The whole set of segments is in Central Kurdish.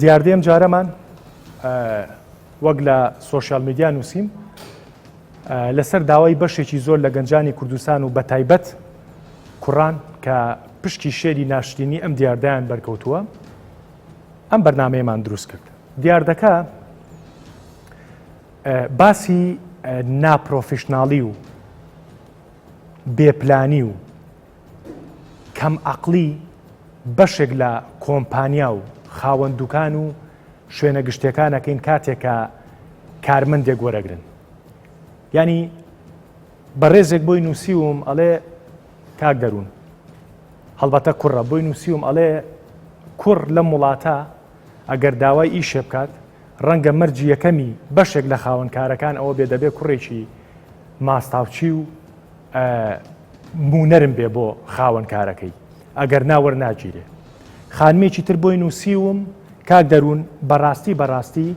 دیاردەی ئەم جارەمان وەک لە سۆشیال میدیا نووسیم لەسەر داوای بەشێکی زۆر لە گەنجانی کوردستان و بەتایبەت کوڕان کە پشکی شێری ناشرینی ئەم دیاردەیان بەرکەوتووە ئەم بەرنمەیەمان دروست کرد دیاردەکە باسی ناپرۆفیشنناڵی و بێپلانی و کەم ئەقڵی بەشێک لە کۆمپانیا و خاوەن دوکان و شوێنە گشتەکانەکەین کاتێکە کارمەندێک وەرەگرن ینی بەڕێزێک بۆی نووسیوم ئەڵێ کاک دەروون هەڵبەتە کوڕە بۆی نووسیوم ئەڵێ کوڕ لەم وڵاتە ئەگەر داوای ئیشێ بکات ڕەنگە مەرجی یەکەمی بەشێک لە خاوەنکارەکان ئەوە بێ دەبێ کوڕێکی ماستاوچی و موو نەرم بێ بۆ خاوەن کارەکەی ئەگەر نا وەرناگیرێ. خانمێکی تر بۆی نووسیوم، کاک دەروون بەڕاستی بەڕاستی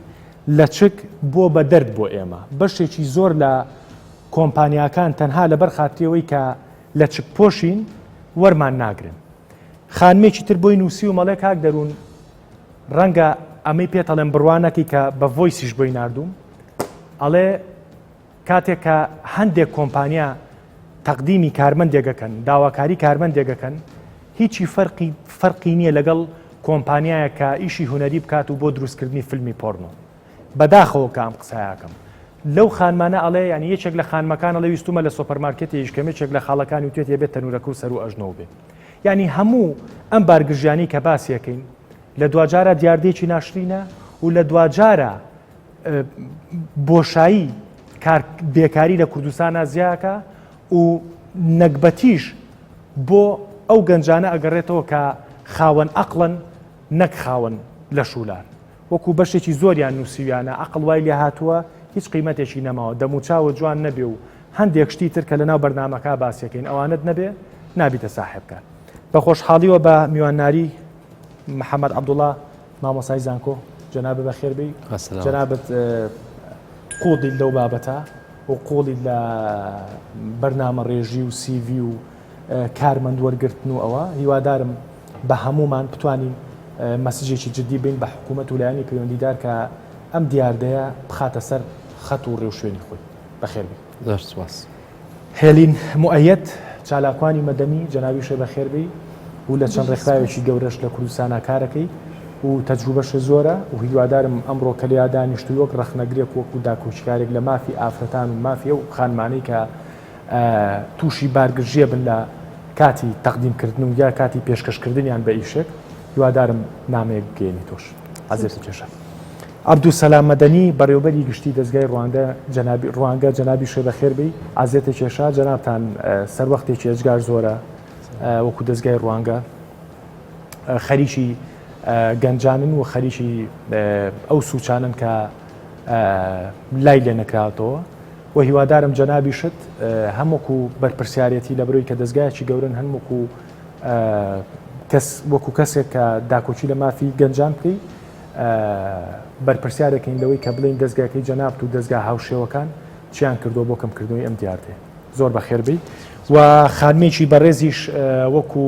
لەچک بووە بە دەرد بۆ ئێمە، بەشێکی زۆر لە کۆمپانیاکان تەنها لەبەر خاتری ئەوەی کە لەچکپۆشین وەرمان ناگرن. خانمێکی تر بۆی نووسیوم ئەڵێ کاک دەروون ڕەنگە ئەمەی پێت ئەڵێم بڕوا نەکەی کە بە ڤۆیسیش بۆی ناردووم ئەڵێ، کاتێک کە هەندێک کۆمپانیا تەقدیمی کارمەندێک دەکەن داواکاری کارمەندێک دەکەن هیچی فەرقی فەرقی نییە لەگەڵ کۆمپانیایە کە ئیشی هوەری بکات و بۆ دروستکردنی فیلمی پۆرنۆ بەداخەوە کە ئەم قسایەکەم لەو خانمانە ئەڵێ ینی یەکێک لە خانمەکان ئەڵێ ویستومە لە سۆپەرمارکێتی یشکەمێکێک لە خاڵەکانی وتێت یەبێت تەنورەکە و سەرو ئەژنەوە بێت ینی هەموو ئەم بارگژیانی کە باسیەکەین لە دواجارە دیاردێکی ناشرینە و لە دواجارە بۆشایی بێکاری لە کوردستانە زیاکە و نەگبەتیش بۆ ئەو گەنجانە ئەگەڕێتەوە کە خاوەن ئەقلن نەک خاوەن لە شولار وەکو بەشێکی زۆریان نووسویانە ئەقل وای لێ هاتووە هیچ قیمەتێکی نەماوە دەموچاوە جوان نەبێ و هەندێک شتی تر کە لە ناو بەرنمەکە باسیەکەین ئەوانت نەبێ نابیتە ساحبکە بە خۆشحاڵیوە بە میوانداری محەممەد عبدوڵا مامۆستای زانکۆ جەنابت بەخێر بی جەنابت قوڵیت لەو بابەتە و قوڵی لە بەرنامە ڕێژی و سیV و کارمەند وەرگرتن و ئەوە هیوادارم بە هەمومان بتوانین مەسجێکی جددی بین بە حکوومەت و لایەنی پەیوەندیدار کە ئەم دیاردەیە بخاتە سەر خەت و ڕێوشوێنی خۆی بەخێربی. زۆر سوپاس. هێلین موئەیەد، چالاکوانی مەدەنی، جەنابی وشەی بەخێر بێی و لە چەند ڕێکخراوێکی گەورەش لە کوردستانا کارەکەی و تەجروبەشێ زۆرە و هیوادارم ئەمڕۆ کە لێیا دانیشتووی وەک ڕەخنەگرێک و وەکوو داکۆکیکارێک لە مافی ئافرەتان و مافی ئەو خانمانەی کە تووشی بارگرژییە بن لە کاتی تەقدیمکردن و یا کاتی پێشکەشکردنیان بە ئیشێک هیوادارم نامەیەک بگەیەنیتۆش. عەزێتم کێشا. عەبدولسەلام مەدەنی، بەڕێوەبەری گشتیی دەزگای ڕوانگە، جەنابی، ڕوانگە، جەنابیش شێ بەخێر بێی، عەزێتە کێشا، جەنابتان سەروەختێکی ئێجگار زۆرە وەکوو دەزگای ڕوانگە خەریکی گەنجانن و خەریکی ئەو سووچانەن کە لای لێ نەکراوەتەوە و هیوادارم جەنابیشت هەم وەکوو بەرپرسیارێتی لە برۆی کە دەزگایەکی گەورەن هەن وەکوو کەس وەکوو کەسێک کە داکۆکی لە مافی گەنجان بکەی بەرپرسیارێکین لەوەی کە بڵێین دەزگاکەی جەنابت و دەزگا هاوشێوەکان چیان کردووە بۆ کەمکردنەوەی ئەم دیاردەیە زۆر بەخێربی و خانمێکی بەڕێزیش وەکو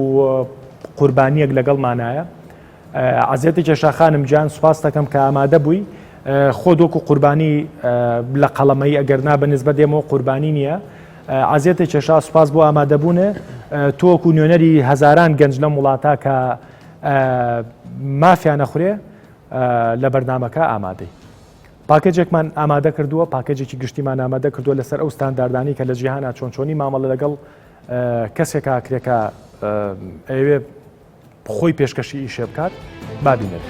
قوربانیەک لەگەڵمانایە عزیێتی کێشا خانم جان سوپاس دەکەم کە ئامادە بووی خۆ دۆکو قوربانی لە قەڵەمەی ئەگەر نا بە نسبە دێمەوە قوربانی نییە عزیێتی کێشا سوپاس بۆ ئامادەبوونە تۆکو نوێنەری هەزاران گەنج لەم وڵاتە کە مافیا نەخورێ لە بەرنمەکە ئامادەی پاکێجێکمان ئامادە کردووە پاکێجێکی گشتیمان ئامادە کردووە لەسەر ئەو ستانداردانی کە لە جیهانە چۆن چۆنی مامەڵە لەگەڵ کەسێکا کرێکە ئەوێ خۆی پێشکەشی ئیشێ بکات بابینێت.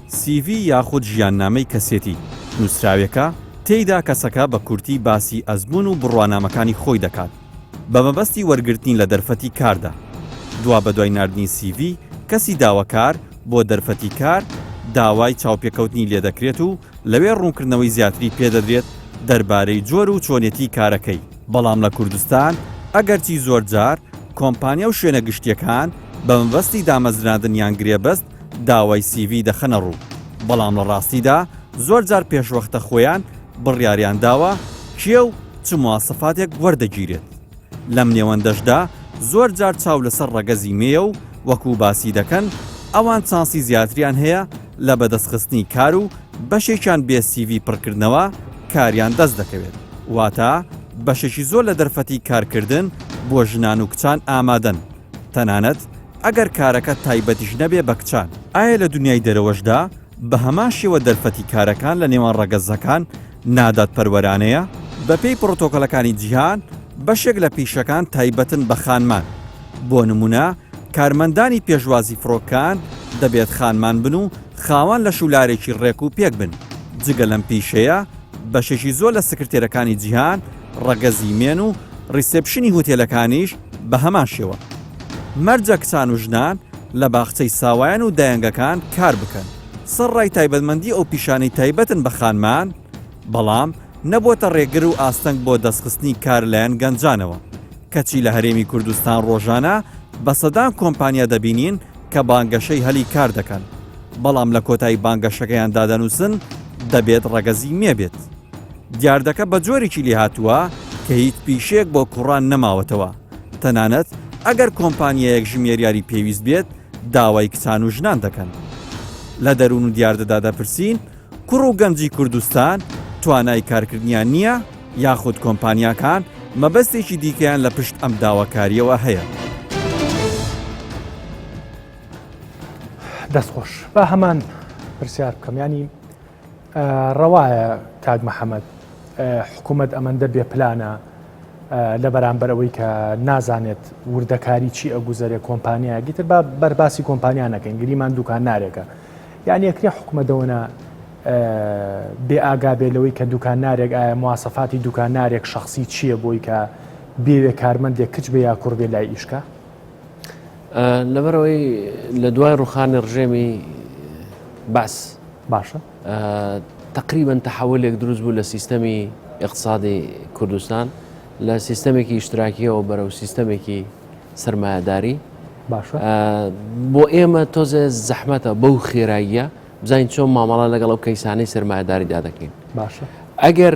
سی ڤی یاخود ژیاننامەی کەسێتی، نووسراوێکە تێیدا کەسەکە بە کورتی باسی ئەزموون و بڕوانامەکانی خۆی دەکات بە مەبەستی وەرگرتنی لە دەرفەتی کاردا. دوابەدوای ناردنی سی ڤی کەسی داوەکار بۆ دەرفەتی کار، داوای چاوپێکەوتنی لێدەکرێت و لەوێ ڕوونکردنەوەی زیاتری پێدەدرێت دەربارەی جۆر و چۆنێتی کارەکەی. بەڵام لە کوردستان ئەگەرچی زۆرجار کۆمپانیا و شوێنە گشتییەکان بە مەبەستی دامەزراندن یان گرێبەست داوای سیڤی دەخەنە ڕوو، بەڵام لە ڕاستیدا زۆر جار پێشوەختە خۆیان بڕیاریان داوە کێ و چ مواسەفاتێک وەردەگیرێت. لەم نێوەندەشدا زۆر جار چاو لەسەر ڕەگەزی مێیە و وەکو باسی دەکەن ئەوان چانسی زیاتریان هەیە لە بەدەستخستنی کار و بەشێکیان بێ سیڤی پڕکردنەوە کاریان دەست دەکەوێت. واتە بەشێکی زۆر لە دەرفەتی کارکردن بۆ ژنان و کچان ئامادەن تەنانەت ئەگەر کارەکە تایبەتیش نەبێ بە کچان، ئایا لە دونیای دەرەوەشدا بە هەمان شێوە دەرفەتی کارەکان لە نێوان ڕەگەزەکان نادادپەروەرانەیە؟ بە پێی پڕۆتۆکۆلەکانی جیهان، بەشێک لە پیشەکان تایبەتن بە خانمان. بۆ نموونە کارمەندانی پێشوازی فڕۆکەکان دەبێت خانمان بن و خاوەن لەش و لارێکی ڕێک و پێک بن. جگە لەم پیشەیە، بەشێکی زۆر لە سکرتێرەکانی جیهان، ڕەگەزی مێن و ڕیسێپشنی هوتێلەکانیش، بە هەمان شێوە مەرجە کچان و ژنان لە باخچەی ساوایان و دایەنگەکان کار بکەن، سەرڕای تایبەتمەندی ئەو پیشانەی تایبەتن بە خانمان، بەڵام نەبووەتە رێگر و ئاستەنگ بۆ دەستخستنی کار لایەن گەنجانەوە، کەچی لە هەرێمی کوردستان رۆژانە بە سەدان کۆمپانیا دەبینین کە بانگەشەی هەلی کار دەکەن، بەڵام لە کۆتایی بانگەشەکەیاندا دەنووسن دەبێت رەگەزی مێ بێت. دیاردەکە بە جۆرێکی لێهاتووە کە هیچ پیشەیەک بۆ کوڕان نەماوەتەوە، تەنانەت ئەگەر کۆمپانیایەک ژمێریاری پێویست بێت داوای کچان و ژنان دەکەن. لە دەروون و دیاردەدا دەپرسین کوڕ و گەنجی کوردستان توانای کارکردنیان نییە یاخود کۆمپانیاکان مەبەستێکی دیکەیان لە پشت ئەم داواکارییەوە هەیە؟ دەستخۆش، با هەمان پرسیار بکەم ینی ڕەوایە کاک محمد حکومەت ئەمەندە بێ پلانە لە بەرامبەر ئەوەی کە نازانێت وردەکاری چی ئەگوزەرێ کۆمپانیایەکی تر با بەرباسی کۆمپانیا نەکەین گریمان دوکان نارێکە یعنی یەکرێ حکومەدەوەە بێ ئاگا بێ لەوەی کە دوکان نارێک ئایا موواسەفاتی دوکان نارێک شخصی چییە بۆی کە بێوێ کارمەندێک کچ بێ یا کوڕ بێ لای ئیشکە لەبەرەوەی لە دوای ڕوخانی ڕژێمی بەس باشە تقریبن تەحولێک دروست بوو لە سیستەمی اقتصادی کوردستان لە سیستەمێکی ئیشتراکیەوە بەرەو سیستەمێکی سرمایهداری باشە بۆ ئێمە تۆزێ زەحمەتە بەو خێراییە بزانین چۆن مامەڵە لەگەڵ ئەو کەیسانی سرمایهداریدا دەکەین باشە ئەگەر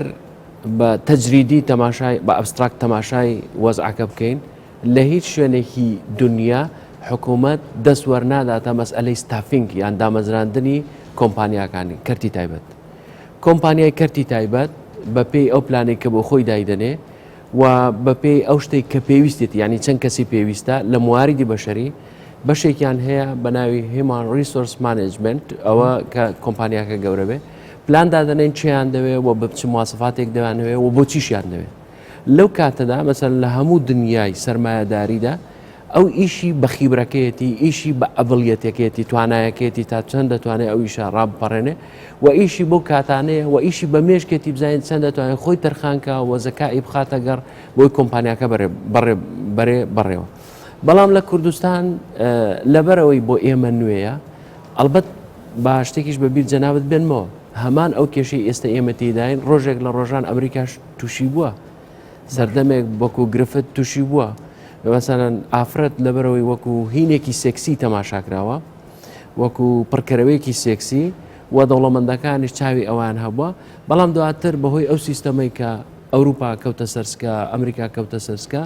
بە تەجریدی تەماشای بە ئەبستراکت تەماشای وەزعەکە بکەین لە هیچ شوێنێکی دونیا حکوومەت دەست وەرناداتە مەسئلەی ستافینگ یان دامەزراندنی کۆمپانیاکانی کەرتی تایبەت کۆمپانیای کەرتی تایبەت بە پێی ئەو پلانێک کە بۆ خۆی دایدەنێ و بە پێی ئەو شتێک کە پێویستێتی ینی چەند کەسی پێویستە لە مواریدی بەشەری بەشێکیان هەیە بە ناوی هیمان ریسۆرس مانجمنت ئەوە کە کۆمپانیاکە گەورە بێ پلان دادەنێن چیان دەوێ و بچ مواسفاتێک دەوانەوێ و بۆ چیشیان دەوێت لەو کاتەدا مەسەن لە هەموو دنیای سەرمایەداریدا ئەو ئیشی بە خیبرەکەیەتی ئیشی بە ئەبڵیەتەکەیەتی توانایەکەیەتی تا چەند دەتوانێت ئەو ئیشە ڕابپەڕێنێ و ئیشی بۆ کاتانەیە و ئیشی بە مێشکێتی بزانین چەند دەتوانێت خۆی تەرخانکە و زەکائی بخاتە گەڕ بۆی کۆمپانیاکە بەرێ بەڕێوە بەڵام لە کوردستان لەبەرەوەی بۆ ئێمە نوێیە ئەلبەت با شتێکیش بەبییر جەنابەت بێنمەوە هەمان ئەو کێشەی ئێستا ئێمە تێداین ڕۆژێک لە ڕۆژان ئەمریکاش توشی بووە سەردەمێک بەکو گرفت توشی بووە بەمەسەەن ئافرەت لەبەرەوەی وەکو هینێکی سێکسی تەماشاکراوە وەکو پڕکەرەوەیەکی سێکسی و دەوڵەمەندەکانی چاوی ئەوان هەبووە بەڵام دواتر بەهۆی ئەو سیستەمەی کە ئەوروپا کەوتە سەرسکە ئەمریکا کەوتە سەرسکە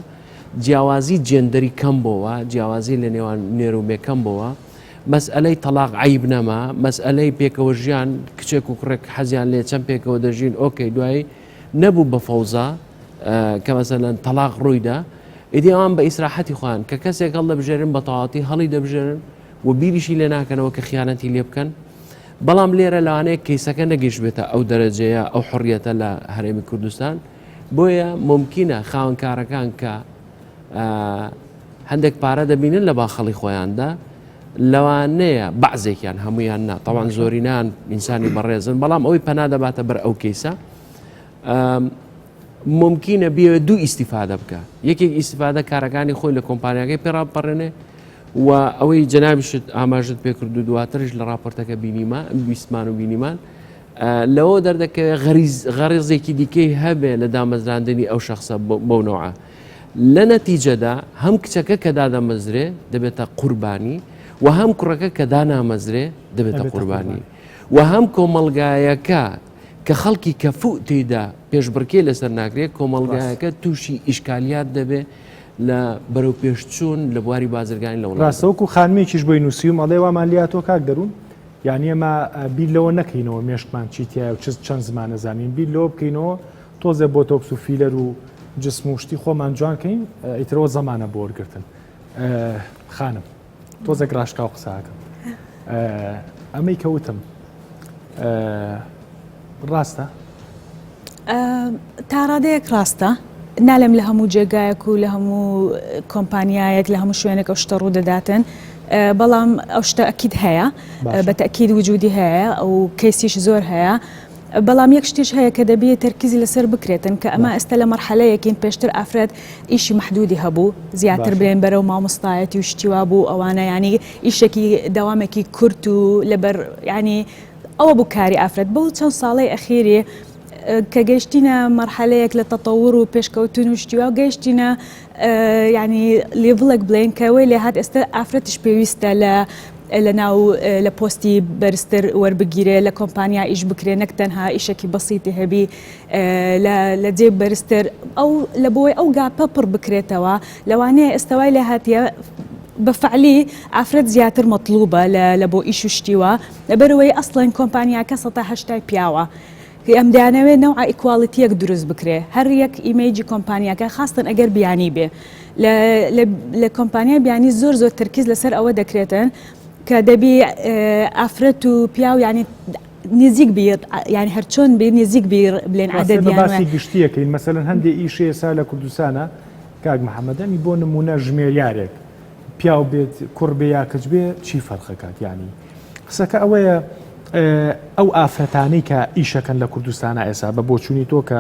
جیاوازی جێندەری کەم بۆەوە جیاوازی لە نێوان نێرومێکەم بۆەوە مەسئەلەی تەڵاق عیب نەما مەسئەلەی پێکەوە ژیان کچێک و کوڕێک حەزیان لێ چەند پێکەوە دەژین ئۆکەی دوایی نەبوو بە فەوزا کە مەسەلەن تەلاق ڕوویدا ئیدی ئەوان بە ئیسراحەتی خۆیان کە کەسێک هەڵ دەبژێرن بە تەواتی هەڵی دەبژێرن و بیریشی لێ ناکەنەوە کە خیانەتی لێ بکەن بەڵام لێرە لەوانەیە کەیسەکە نەگەیشتبێتە ئەو دەرەجەیە ئەو حڕیەتە لە هەرێمی کوردستان بۆیە ممکنە خاونکارەکان کە هەندێک پارە دەبینن لە باخەڵی خۆیاندا لەوانەیە بەعزێکیان هەمویان نا تاوان زۆرینان ئینسانی بەڕێزن بەڵام ئەوی پەنا دەباتە بەر ئەو کەیسە ممکنە بێ دوو ئیسیفادە بکە یەکێک ئیسیفادە کارەکانی خۆی لە کۆمپانیاکەی پێڕاپەڕێنێ و ئەوەی جنابیشت ئاماژت پێکرد و دواترش لە راپۆرتەکە بینیمە بیسمان و بینیمان لەوە دەردەکەوێت غەریز غەڕێزێکی دیکەی هەبێ لە دامەزراندنی ئەو شخصە بەو نەوعە لە نەتیجەدا هەم کچەکە کە دادەمەزرێ دەبێتە قوربانی و هەم کوڕەکە کە دانامەزرێ دەبێتە قوربانی و هەم کۆمەلگایەکە کە خەڵکی کەفوو تێدا پێشبڕکێ لەسەر ناکرێت کۆمەلگایەکە تووشی ئیشکالیات دەبێ لە بەرەو پێشچوون لە بواری بازرگانی لە وڵاستەوەکو خانمێکیش بۆی نووسیوم ئەڵێ وامان لاتۆ کاک دەروون یانی ئێمە بیر لەوە نەکەینەوە مێشکمان چی تایە و چ چەند زمانە زانین بیر لەوە بکەینەوە تۆزێ بۆ تۆکس و فیلەر و جسم و شتی خۆمان جوانکەین ئیترەوە زمانە بۆ وەرگتن خانم تۆزێک ڕاشکا و قساکەم ئەمەی کەوتم ڕاستە تاڕادەیەک ڕاستە نالێم لە هەموو جێگایەک و لە هەموو کۆمپانیایەک لە هەموو شوێنێک ئەو شتە ڕوودەداتن بەڵام ئەو شتە ئەکیید هەیە بە تەکیید وجودی هەیە ئەو کەسیش زۆر هەیە. بەڵام یەک شتیش هەیە کە دەبێت تەرکیزی لەسەر بکرێتن کە ئەمە ئێستا لە مەرحەلەیەکین پێشتر ئافرەت ئیشی محدودی هەبوو زیاتر بێن بەرەو مامۆستایەتی و شتیوا بوو ئەوانە ینی ئیشێکی داوامێکی کورت و لەبەر ینی ئەوە بوو کاری ئافرەت بەو چەند ساڵەی ئەخیری کە گەشتینە مەرحەلەیەک لە تەتەور و پێشکەوتن و شتیوا و گەشتینە ینی لێڤڵێک بڵێن کەەوەی لە هاات ئێستا ئافرەتش پێویستە لە لە ناو لە پۆستی بەرزتر وەربگیرێ لە کۆمپانیا ئیش بکرێ نەک تەنها ئیشێکی بەسیتی هەبی لە جێ بەرزتر ئەو لە بۆی ئەو گاپە پڕ بکرێتەوە لەوانەیە ئێستاوای لە هااتە بە فعلی ئافرەت زیاتر مەطلوبە لە بۆ ئیش و شتیوە لەبەرئەوەی ئەسڵەن کۆمپانیاکە سەتا هەشتای پیاوە ئێم دەیانەوێ نەوعە ئیکواڵیتیەک دروست بکرێ هەر یەک ئیمەیجی کۆمپانیاکە خاستەن ئەگەر بیانی بێ لە لە کۆمپانیای بیانی زۆر زۆر ترکیز لەسەر ئەوە دەکرێتن کە دەبی ئافرەت و پیاو ینی نزیک بیر ینی هەرچۆن بی نزیک بیر بلێن عادەتی گشتیەکەین مەسەن هەندێک ئیشێ سا لە کوردستانە کاک محەممەدەمی بۆ نمونە ژمێریارێک پیاو بێت کوڕ بێ یا کچ بێ چی فەرقەکات ینی قسەکە ئەوەیە ئەو ئافرەتانەی کە ئیشەکەن لە کوردستانە ئێسا بە بۆچوونی تۆ کە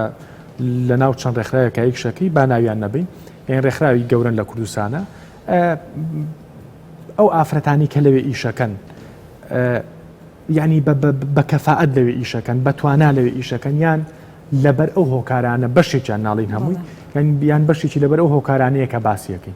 لە ناو چەند ڕێکخراوە کە یکشەکەی با ناویان نەبین یان ڕێکخراوی گەورن لە کوردستانە ئەو ئافرەتانی کە لەوێ ئیشەکەن ینی بە کەفاعەت لەوێ ئیشەکەن بە توانا لەوێ ئیشەکەن یان لەبەر ئەو هۆکارانە بەشێکیان ناڵین هەمووی یان بیان بەشێکی لەبەر ئەو هۆکارانەیە کە باسیەکەی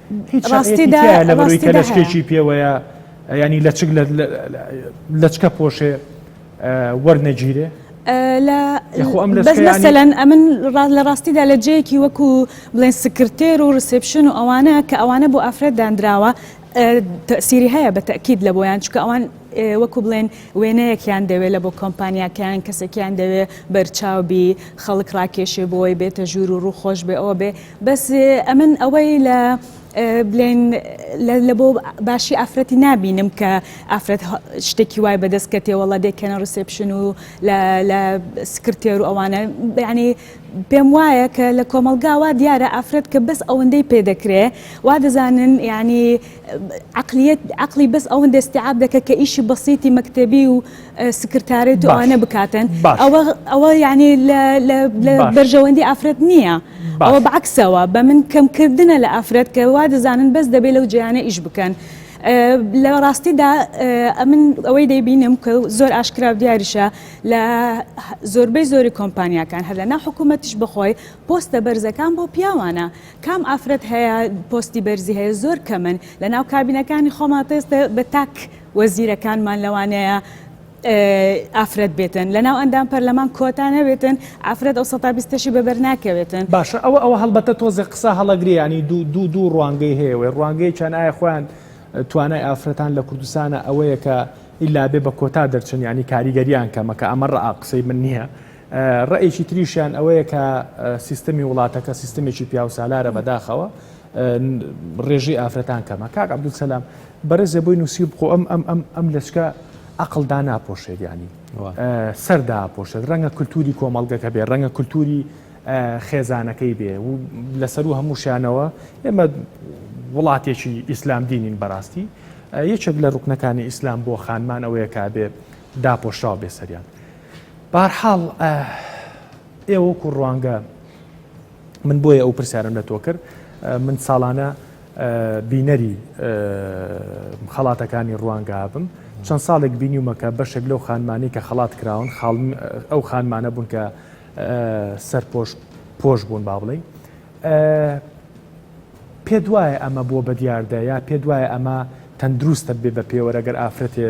هیچ شەرعیەتی تیایە لەبەروی کە لەچکێکی پێوەیە ینی لەچک لەچکە پۆشێ وەرنەگیرێ لەسەلەن ئەمن لە ڕاستیدا لە جەیەکی وەکو بڵێن سکرتێر و ڕسپشن و ئەوانە کە ئەوانە بۆ ئافرەت دانراوە تەسیری هەیە بە تەکیید لە بۆیان چکە ئەوان وەکو بڵێن وێنەیەکیان دەوێت لە بۆ کۆمپانیاکەیان کەسێکیان دەوێت بەرچاوبی خەڵک ڕاکێشێ بۆی بێتە ژوور و ڕووخۆش بێ ئەوە بێ بەس ئەمن ئەوەی لە بلێن لە بۆ باشی ئافرەتی نابینم کە ئافرەت شتێکی وای بەدەست کە تێوەڵە دێکەنە ڕسپشن و لە سکرتێر و ئەوانە بەعنی پێم وایە کە لە کۆمەلگاوا دیارە ئافرەت کە بەس ئەوەندەی پێدەکرێ وا دەزانن ینی عەقلیەت عەقلی بەس ئەوەندە استیعاب دەکە کە ئیشی بەسیتی مەکتەبی و سکرتارێت و ئەوانە بکاتن ئەوە ئەوە یعنی لە بەرژەوەندی ئافرەت نییە ئەوە بەعکسەوە بە من کەمکردنە لە ئافرەت کە وا دەزانن بەس دەبێت لەو جیانە ئیش بکەن. لە ڕاستیدا ئەمن ئەوەی دەیبینم کە زۆر ئاشکرا و دیاریشە لە زۆربەی زۆری کۆمپانیاکان هەر لە ناو حکوومەتیش بخۆی پۆستە بەرزەکان بۆ پیاوانە کام ئافرەت هەیە پۆستی بەرزی هەیە زۆر کەمن لەناو کابینەکانی خۆمان پێستە بە تاک وەزیرەکانمان لەوانەیە ئافرەت بێتن لەناو ئەندام پەرلەمان کۆتا نەبێتن ئافرەت ئەو سەتا بیستەشی بەبەر ناکەوێتن. باشە ئەوە ئەوە هەڵبەتە تۆزێ قسە هەڵەگرێ یانی دوو دوو دوو ڕوانگەی هەیە وێ ڕوانگەیەکیان ئایا خۆیان توانای ئافرەتان لە کوردستانە ئەوەیە کە ئیلا بێ بە کۆتا دەرچن یانی کاریگەریان کەمە کە ئەمە ڕآ قسەی من نییە ڕەئیکی تریشیان ئەوەیە کە سیستەمی وڵاتەکە سیستەمێکی پیاوسالارە بەداخەوە ڕێژی ئافرەتان کەمە کاک عبدول سەسلام بەرزێ بۆی نووسی بخۆ ئەم ئەم ئەم ئەم لەچکە عقلدا ناپۆشێت ینی سەردا پۆشێت ڕەنگە کولتوری کۆمەڵگەکە بێ ڕەنگە کولتوری خێزانەکەی بێ و لەسەر و هەمووشانەوە ئێمە وڵاتێکی ئیسلام دینین بەڕاستی یەکێک لە ڕوکنەکانی ئیسلام بۆ خانمان ئەوەیە کابێ داپۆشراو بێ سەریان بەهەرحاڵ ئێوە وەکو ڕوانگە من بۆیە ئەو پرسیارم لە تۆ کرد من ساڵانە بینەری خەڵاتەکانی ڕوانگە بم چەند ساڵێک بینیومەکە بەشێک لەو خانمانی کە خەڵات کراون ئەو خانمانە بوون کە سەرپۆش پۆش بوون با بڵین پێ دوایە ئەمە بۆ بەدیاردە یا پێ دوایە ئەمە تەندروستە بێ بە پێوەرەگەر ئافرەتێ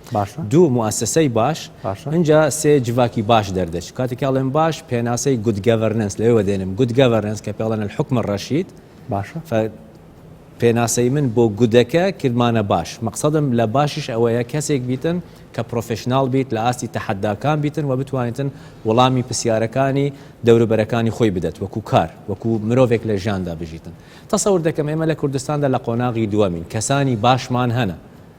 باشە. دوو، موئەسەسەی باش، باشە. ئینجا سێ، جڤاکی باش دەردەچ. کاتێ کە ئەڵێم باش، پێناسەی Good Governance لەوێوە دێنم. Good Governance کە پێ ئەڵێن الحکم الرشید. باشە. فە پێناسەی من بۆ گودەکە کردمانە باش. مەقسەدم لە باشیش ئەوەیە کەسێک بیتن کە پرۆفێشناڵ بیت، لە ئاستی تەحەداکان بیتن و بتوانیتن وەڵامی پرسیارەکانی دەوروبەرەکانی خۆی بدەت وەکوو کار، وەکوو مرۆڤێک لە ژیاندا بژیتن. تەسەور دەکەم ئێمە لە کوردستاندا لە قۆناغی دووەمین. کەسانی باشمان هەنە.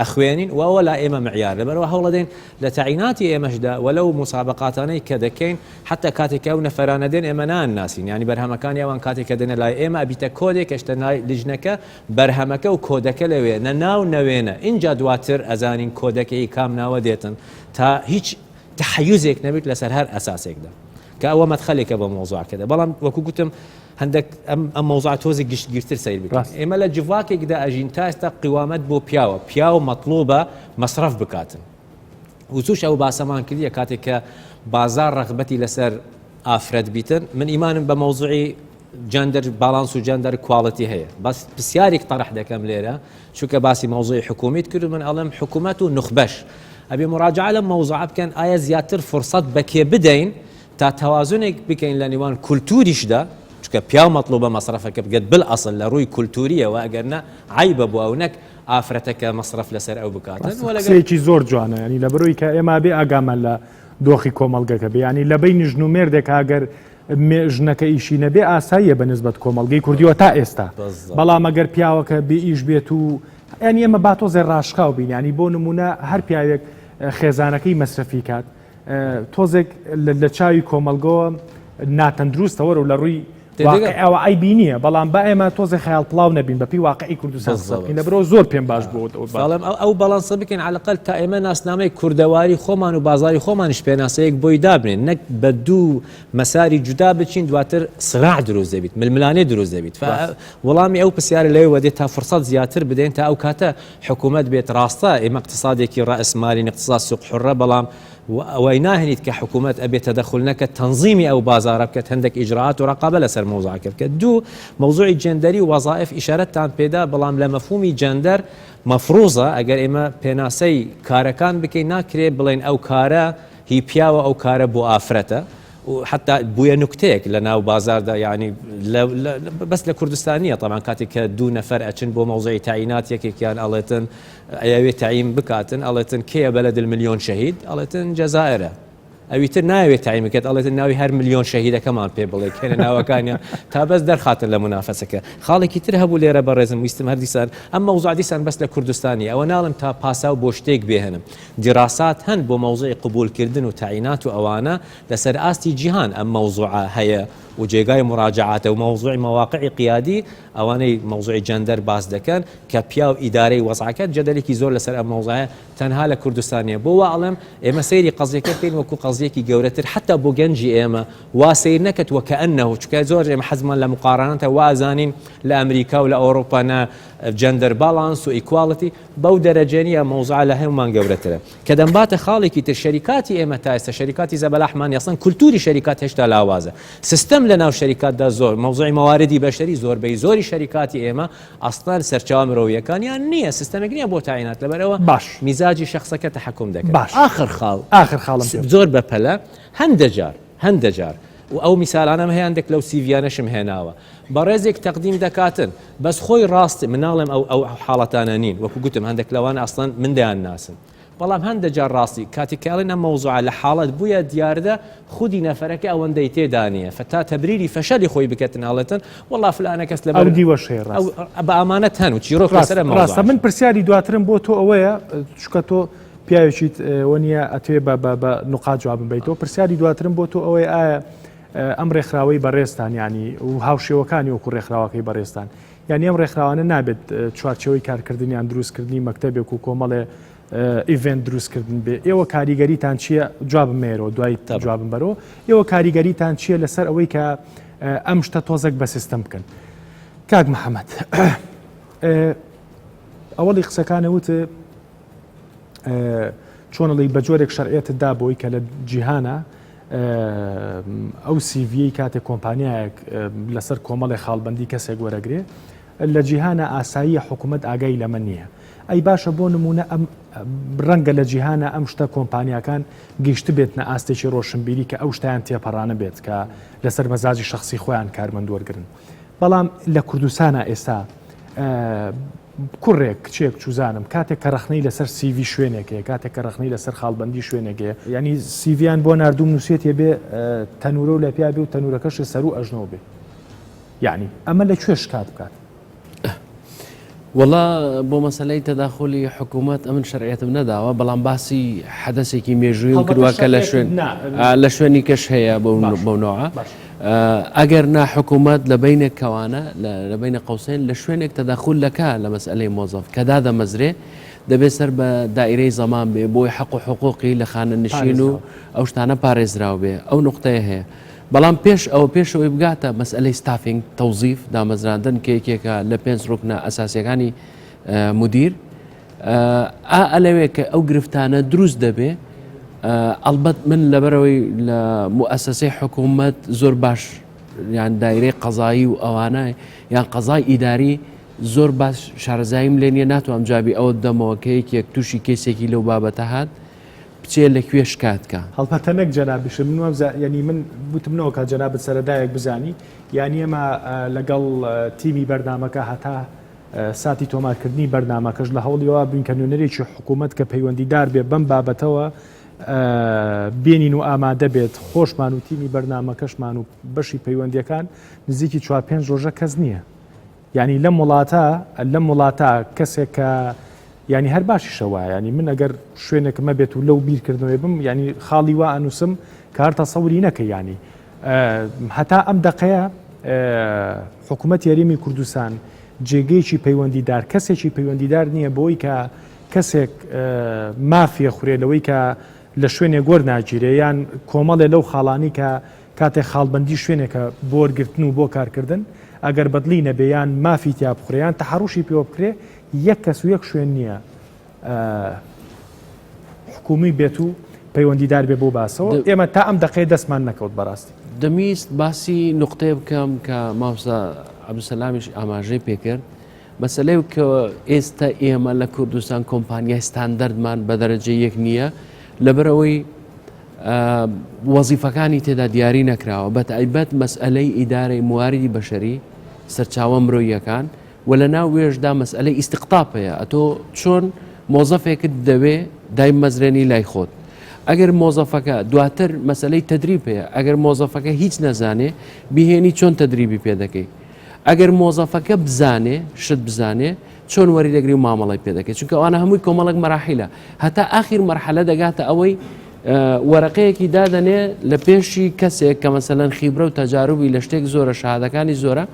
ئەخوێنین و ئەوە لا ئێمە مەعیارە لەبەرئەوە هەوڵەدەین لە تەعیناتی ئێمەشدا و لەو موسابەقاتانەی کە دەکەین حەتا کاتێک کە ئەو نەفەرانە دێن ئێمە نانناسین یانی بەرهەمەکانی ئەوان کاتێک کە دێنە لای ئێمە ئەبیتە کۆدێک ئەچتە لای لیژنەکە بەرهەمەکە و کۆدەکە لەوێ نە ناو نە وێنە ئینجا دواتر ئەزانین کۆدەکە ی کام ناوە دێتن تا هیچ تەحەیوزێک نەبیت لەسەر هەر ئەساسێکدا کە ئەوە مەدخەلێکە بۆ مەوزوعەکەدا بەڵام وەکو گوتم هەندەک ئەم ئەم مەوزوعە تۆزێک گشتگیرتر سەیر بکەین. ڕاست. ئێمە لە جڤاکێکدا ئەژین تا ئێستا قوامەت بۆ پیاوە، پیاو مەتڵوبە مەسرەف بکاتن. وتوش ئەو باسەمان کردیە کاتێک کە بازاڕ ڕەغبەتی لەسەر ئافرەت بیتن، من ئیمانم بە مەوزوعی جەندەر باڵانس و جەندەر کواڵیتی هەیە، بەس پرسیاریک تەڕح دەکەم لێرە، چونکە باسی مەوزوعی حکومیت کرد و من ئەڵێم حکومەت و نوخبەش ئەبێ موڕاجەعە لەم مەوزوعە بکەن ئایا زیاتر فوڕسەت بە کێ بدەین تا تەوازونێک بکەین لە نێوان کولتوریشدا، چونکە پیاو مەتڵوبە مەسرەفەکە بکات بالئەسڵ لە ڕووی کولتورییەوە، ئەگەر نا عەیبە بۆ ئەو نەک ئافرەتەکە مەسرەف لەسەر ئەو بکاتن. وە لەگەڵ. قسەیەکی زۆر جوانە یانی لەبەر ئەوی کە ئێمە ئەبێ ئاگامان لە دۆخی کۆمەڵگەکە بێ یانی لە بەینی ژن و مێردێکا ئەگەر مێ ژنەکە ئیشی نەبێ ئاساییە بە نسبەت کۆمەڵگەی کوردی وە تا ئێستا بالضبط. بەڵام ئەگەر پیاوەکە بێ ئیش بێت و یانی ئێمە با تۆزێ ڕاشکاو بین یانی بۆ نموونە هەر پیاوێک خێزانەکەی مەسرەفی کات تۆزێک لە چاوی کۆمەلگەوە ناتەندروستە وەرە و لە ڕووی ئەوە ئەی بینیە بەڵام با ئێمە تۆزە خیال پڵاو نەبین بەپی واقعی کوردستان لە برۆ زۆر پێم باش بۆ بەڵام ئەو بەڵانسە بکەین علاقل تا ئێمە ناسنامەی کوردەواری خۆمان و بازاری خۆمانش پێناسەیەک بۆی دابنێن نەک بە دوو مەساری جودا بچین دواتر سراع دروست دەبیت ململانێ دروست دەبیت وەڵامی ئەو پرسیارە لەوەدێت تا فرسەت زیاتر بدەین تا ئەو کاتە حکومەت بێت ڕاستە ئێمە اقتصادێکی ڕاس مالین اقتصاد سوق حرە بەڵام وای ناهێنیت کە حکومەت ئەبێت تەدەخول نەکەت تەنزیمی ئەو بازارە بکەت هەندێک ئیجرات و ڕقابە لەسەر مۆزاکە بکەت دوو مەوزوعی جێندەری و وەزائف ئیشارەتتان پێدا بەڵام لە مەفهومی جەندەر مەفروزە ئەگەر ئێمە پێناسەی کارەکان بکەین ناکرێت بڵێن ئەو کارە هی پیاوە ئەو کارە بۆ ئافرەتە و حەتا بویە نوکتەیەک لە ناو بازاردا یانی لە لە بەس لە کوردستان نیە تەبان کاتێک کە دوو نەفەر ئەچن بۆ مەوزەی تاینات یەکێکیان ئەڵێتن ئەیەوێ تایم بکاتن ئەڵێتن کێە بەلە دل ملیۆن شەهید ئەڵێتن جەزائرە ئەوی تر ناوێت تایمکرد ئەڵێت ناوی هەر ملیۆن شەهیدەکەمان پێ بڵێ کێنە ناوەکانیان تا بەس دەرخاتن لە منافەسەکە خاڵێکی تر هەبوو لێرە بە ڕێزم ویستم هەردیسان ئەم مەوزادیسان بەس لە کوردستانی ئەوە ناڵم تا پاسا و بۆ شتێک بێنم دیراسات هەن بۆ مەوزوعی قبوول کردن و تەعینات و ئەوانە لە سەر ئاستی جیهان ئەم مەوزوعە هەیە و جێگای موراجەعاتە و مەوزوعی مەواقعی قیادی ئەوانەی مەوزوعی جەندەر باس دەکەن کە پیاو ئیدارەی وەزعەکە جەدەلێکی زۆر لە سەر ئەم مەوزوعە تەنها لە کوردستان نیە بۆ وا ئەڵێم ئێمە سەیری قەزیەکە بکەین وەکو قەزیەکی گەورەتر حەتا بۆ گەنجی ئێمە وا سەیر نەکەت وەکەئەنەهو چونکە زۆر ئێمە حەزمان لە مقارانەتە وا ئەزانین لە ئەمریکا و لە ئەوروپا نا جەندەر باڵانس و ئیکواڵتی بەو دەرەجە نیە مەوزوعە لە هەومان گەورەترە کە دەمباتە خاڵێکی تر شەریکاتی ئێمە تا ئێستا شەریکاتی زەبەلاحمان نیە ئەسڵەن کولتوری شەریکات هێشتا لاوازە سستەم لە ناو شەریکاتدا زۆر مەوزوعی مەواردی بەشەری زۆربەی زۆری شەریکاتی ئێمە ئەسڵەن سەرچاوە مرۆیەکانیان نیە سستەمێک نیە بۆ تاینات لەبەرەوە باش میزاجی شخصەکە تحکم دەکەن باش ئاخر خاڵ ئاخر خاڵم زۆر بەپەلە هەندەجار هەندەجار و ئەو میسالانەم هەیە هەندێک لەو سیڤیانەشم هێناوە بەڕێزێک تەقدیم دەکاتن بەس خۆی ڕاست من ناڵێم ئەو ئەو حاڵەتانە نین وەکو گوتم هەندێک لەوان ئەسڵەن من دەیان ناسم بەڵام هەندە جار ڕاستی کاتێک کە ئەڵێن ئەم مەوزوعە لە حاڵەت بووە دیاردە خودی نەفەرەکە ئەوەندەی تێدا نییە فتا تەبریری فەشەلی خۆی بکەتن ئەڵێتن وەڵا فلانە کەس لەبەر ئەو دیوەش هەیە ڕاست ئەو بە ئامانەت هەن و چیرۆک ڕاست لەسەر مەوزوع ڕاستە من پرسیاری دواترم بۆ تۆ ئەوەیە چونکە تۆ پیاوێکیت ئەوە نییە ئەتوێ بە بە بە نقاط جوابم بیتەوە پرسیاری دواترم بۆ تۆ ئەوەیە ئایا ئەم ڕێکخراوەی بەڕێزتان یانی و هاوشێوەکانی وەکو ڕێکخراوەکەی بەڕێزتان یانی ئەم ڕێکخراوانە نابێت چوارچەوەی کارکردنیان دروستکردنی مەکتتەبێک و کۆمەڵێ ئیڤێن دروستکردن بێ ئێوە کاریگەریتان چییە جوابم مێرەوە دوای تا جوابم بەرەوە ئێوە کاریگەریتان چییە لەسەر ئەوەی کە ئەم شتە تۆزەک بە سیستم بکەن کاک محەممەد ئەوەڵی قسەکانە وت چۆنڵی بە جۆرێک شەرعەتدا بۆی کە لە جیهانە ئەو سیڤیەی کاتێک کۆمپانیایەک لەسەر کۆمەڵی خاڵبندی کەسێک وەرەگرێ لە جیهانە ئاساییە حکوومەت ئاگای لەمە نییە ئەی باشە بۆ نمونە ئەم ڕەنگە لە جیهانە ئەم شتە کۆمپانیەکان گەیشت بێتنە ئاستێکی ڕۆشنبیری کە ئەو شتیان تێپەڕانە بێت کە لەسەر مەزاجی شخصی خۆیان کارمەند وەرگن بەڵام لە کوردستانە ئێستا کوڕێک، کچێک چوزانم کاتێک کە ڕەخنەی لەسەر سی ڤی شوێنێک هەیە، کاتێک کە ڕەخنەی لەسەر خاڵبەندی شوێنێک هەیە، یانی سی ڤیان بۆ ناردووم نووسیەتیە بێ تەنورە و لەپیا بێ و تەنورەکەشێ سەروو ئەژنۆ بێ، یانی ئەمە لە کوێ شکات بکات؟ وەڵا بۆ مەسەلەی تەداخولی حکوومەت ئەمن شەرعەتم نەداوە بەڵام باسی حەدەسێکی مێژوویم کردووە کە لە شوێن لە شوێنی کەش هەیە بەونەوە. ئەگەر نا حکومەت لە بەینێک کەوانە لە بەینە قەوسەین لە شوێنێک تەدەخول دەکا لە مەسئەلەی مۆزەف کە دادەمەزرێ دەبێ سەر بە دایرەی زەمان بێ بۆی حەق و حقوقی لە خانە نشین و ئەو شتانە پارێزراو بێ ئەو نقطەیە هەیە بەڵام پێش ئەوە پێشەوەی بگاتە مەسئلەی ستافینگ تەوزیف دامەزراندن کێکێکە لە پێنج ڕوکنە ئەساسیەکانی مدیر ئا ئەلەوێ کە ئەو گرفتانە دروست دەبێ ئەلبەت من لەبەرەوەی لە موئسسەی حکوومەت زۆر باش یان دایرەی قەزایی و ئەوانە یان قەزای ئیداری زۆر باش شارەزاییم لێ نیە ناتوام جابی ئەوە دەمەوە کە یەکێک تووشی کەسێکی لەو بابەتە هاات بچێ لە کوێ شکاتکە هەڵپەتە نەک جەنابیش من وەبزا ینی من وتمنەوە کە جەنابەت سەرەدایەک بزانی یانی ئەمە لەگەڵ تیمی بەرنمەکە هەتا ساتی تۆمارکردنی بەرنامەکەش لە هەوڵیەوە بووین کە نوێنەرێکی حکوومەت کە پەیوەندیدار بێ بەم بابەتەوە بێنین و ئامادە بێت خۆشمان و تیمی بەرنمەکەشمان و بەشی پەیوەندیەکان نزیکی چوار پێنج ڕۆژە کەس نییە ینی لەم وڵاتە لەم وڵاتە کەسێک کە ینی هەر باشیشەوە ینی من ئەگەر شوێنێکمە بێت و لەو بیرکردنەوەی بم ینی خاڵی وا ئەنووسم کارتە سەوری نەکە ینی هەتا ئەم دەقەیە حکوومەت یاریمی کوردستان جێگەیەکی پەیوەندیدار کەسێکی پەیوەندیدار نییە بۆی کە کەسێک مافیە خورێ لەوەی کە لە شوێنێک گۆر ناگیرێ یان کۆمەڵێ لەو خاڵانی کە کاتێک خاڵبندی شوێنێکە بۆرگرتن و بۆ کارکردن ئەگەر بەدلی نەبێیان مافی تیا بخورێیان تەحڕوشی پێوە بکرێ یەک کەس و یەک شوێن نییە حکومی بێت و پەیوەندیدار بێ بۆ باسەوە ئێمە تا ئەم دقەیە دەستمان نەکەوت بەڕاستی دەمیست باسی نقطەیە بکەم کە ماوسا عبدسەلامیش ئاماژەی پێکرد مەسلەی کە ئێستا ئێمە لە کوردستان کۆمپانیای ستاندەردمان بە دەرەجە یەک نییە لەبەرەوەی وەزیفەکانی تێدا دیاری نەکراوە بە تایبەت مەسئلەی ئیدارەی مواریدی بەشەری سەرچاوە مرۆیەکان وە لە ناو وێش دا مەسئەلەی ئیستقطاب هەیە ئەتۆ چۆن مۆزەفێکت دەوێ دایمەزرێنی لای خۆت ئەگەر مۆزەفەکە دواتر مەسلەی تدریب هەیە ئەگەر مۆزەفەکە هیچ نەزانێ بهێنی چۆن تدریبی پێ دەکەی ئەگەر مۆزەفەکە بزانێ شت بزانێ چۆن وەری دەگری و مامەڵی پێ دەکەێت چونکە ئەوانە هەمووی کۆمەڵک مەراحیلە هەتا ئاخیر مەرحەلە دەگاتە ئەوەی وەرەقەیەکی دادەنێ لە پێشی کەسێک کە مەسەەن خیبرە و تەجاروبی لە شتێک زۆرە شادەکانی زۆرە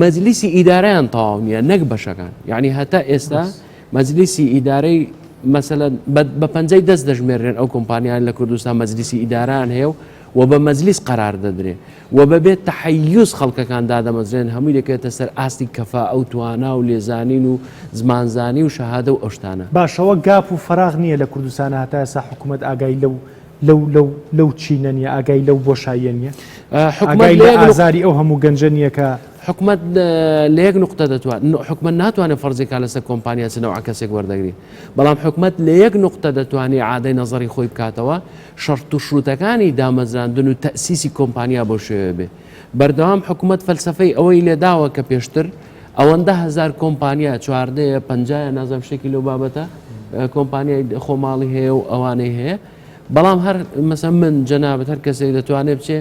مەجلیسی ئیدارەیان تەواو نییە نەک بەشەکان یعنی هەتا ئێستا مەجلیسی ئیدارەی مەسەن بە پەنجەی دەست دەژمێرێن ئەو کۆمپانیان لە کوردستان مەجلیسی ئیداران هەیە و و بە مەجلیس قرار دەدرێ و بەبێت تحیز خەڵکەکان دادەمەزرێن هەمووی دەکرێتە سەر ئاستی کەفا ئەو توانا و لێزانین و زمانزانی و شەهادە و ئەوشتانە باشەوە گاپ و فەراغ نییە لە کوردستانە هەتایسا حکوومەت ئاگای لەو لەو لەو لەو چینە نیە ئاگای لەو بۆشاییە نیە حکومای لە ئازاری ئەو هەموو گەنجە نیە کە حکومت لە یەک نقطە دەتوان حکومە ناتوانێت فەرزیکا لەسەر کۆمپانیا چنەوە کەسێک وەردەگری بەڵام حکومت لە یەک نقطە دەتوانێت عادەی نەزەری خۆی بکاتەوە شەرت و شروتەکانی دامەزراندن و تەسیسی کۆمپانیا بۆ شێوێ بێ بەردەوام حکومت فەلسفەی ئەوەی لێداوە کە پێشتر ئەوەندە هەزار کۆمپانیا چواردەیە پەنجایە نازم شتێکی لەو بابەتە کۆمپانیای خۆماڵی هەیە و ئەوانەی هەیە بەڵام هەر مەسە من جەنابەت هەر کەسێک دەتوانێت بچێ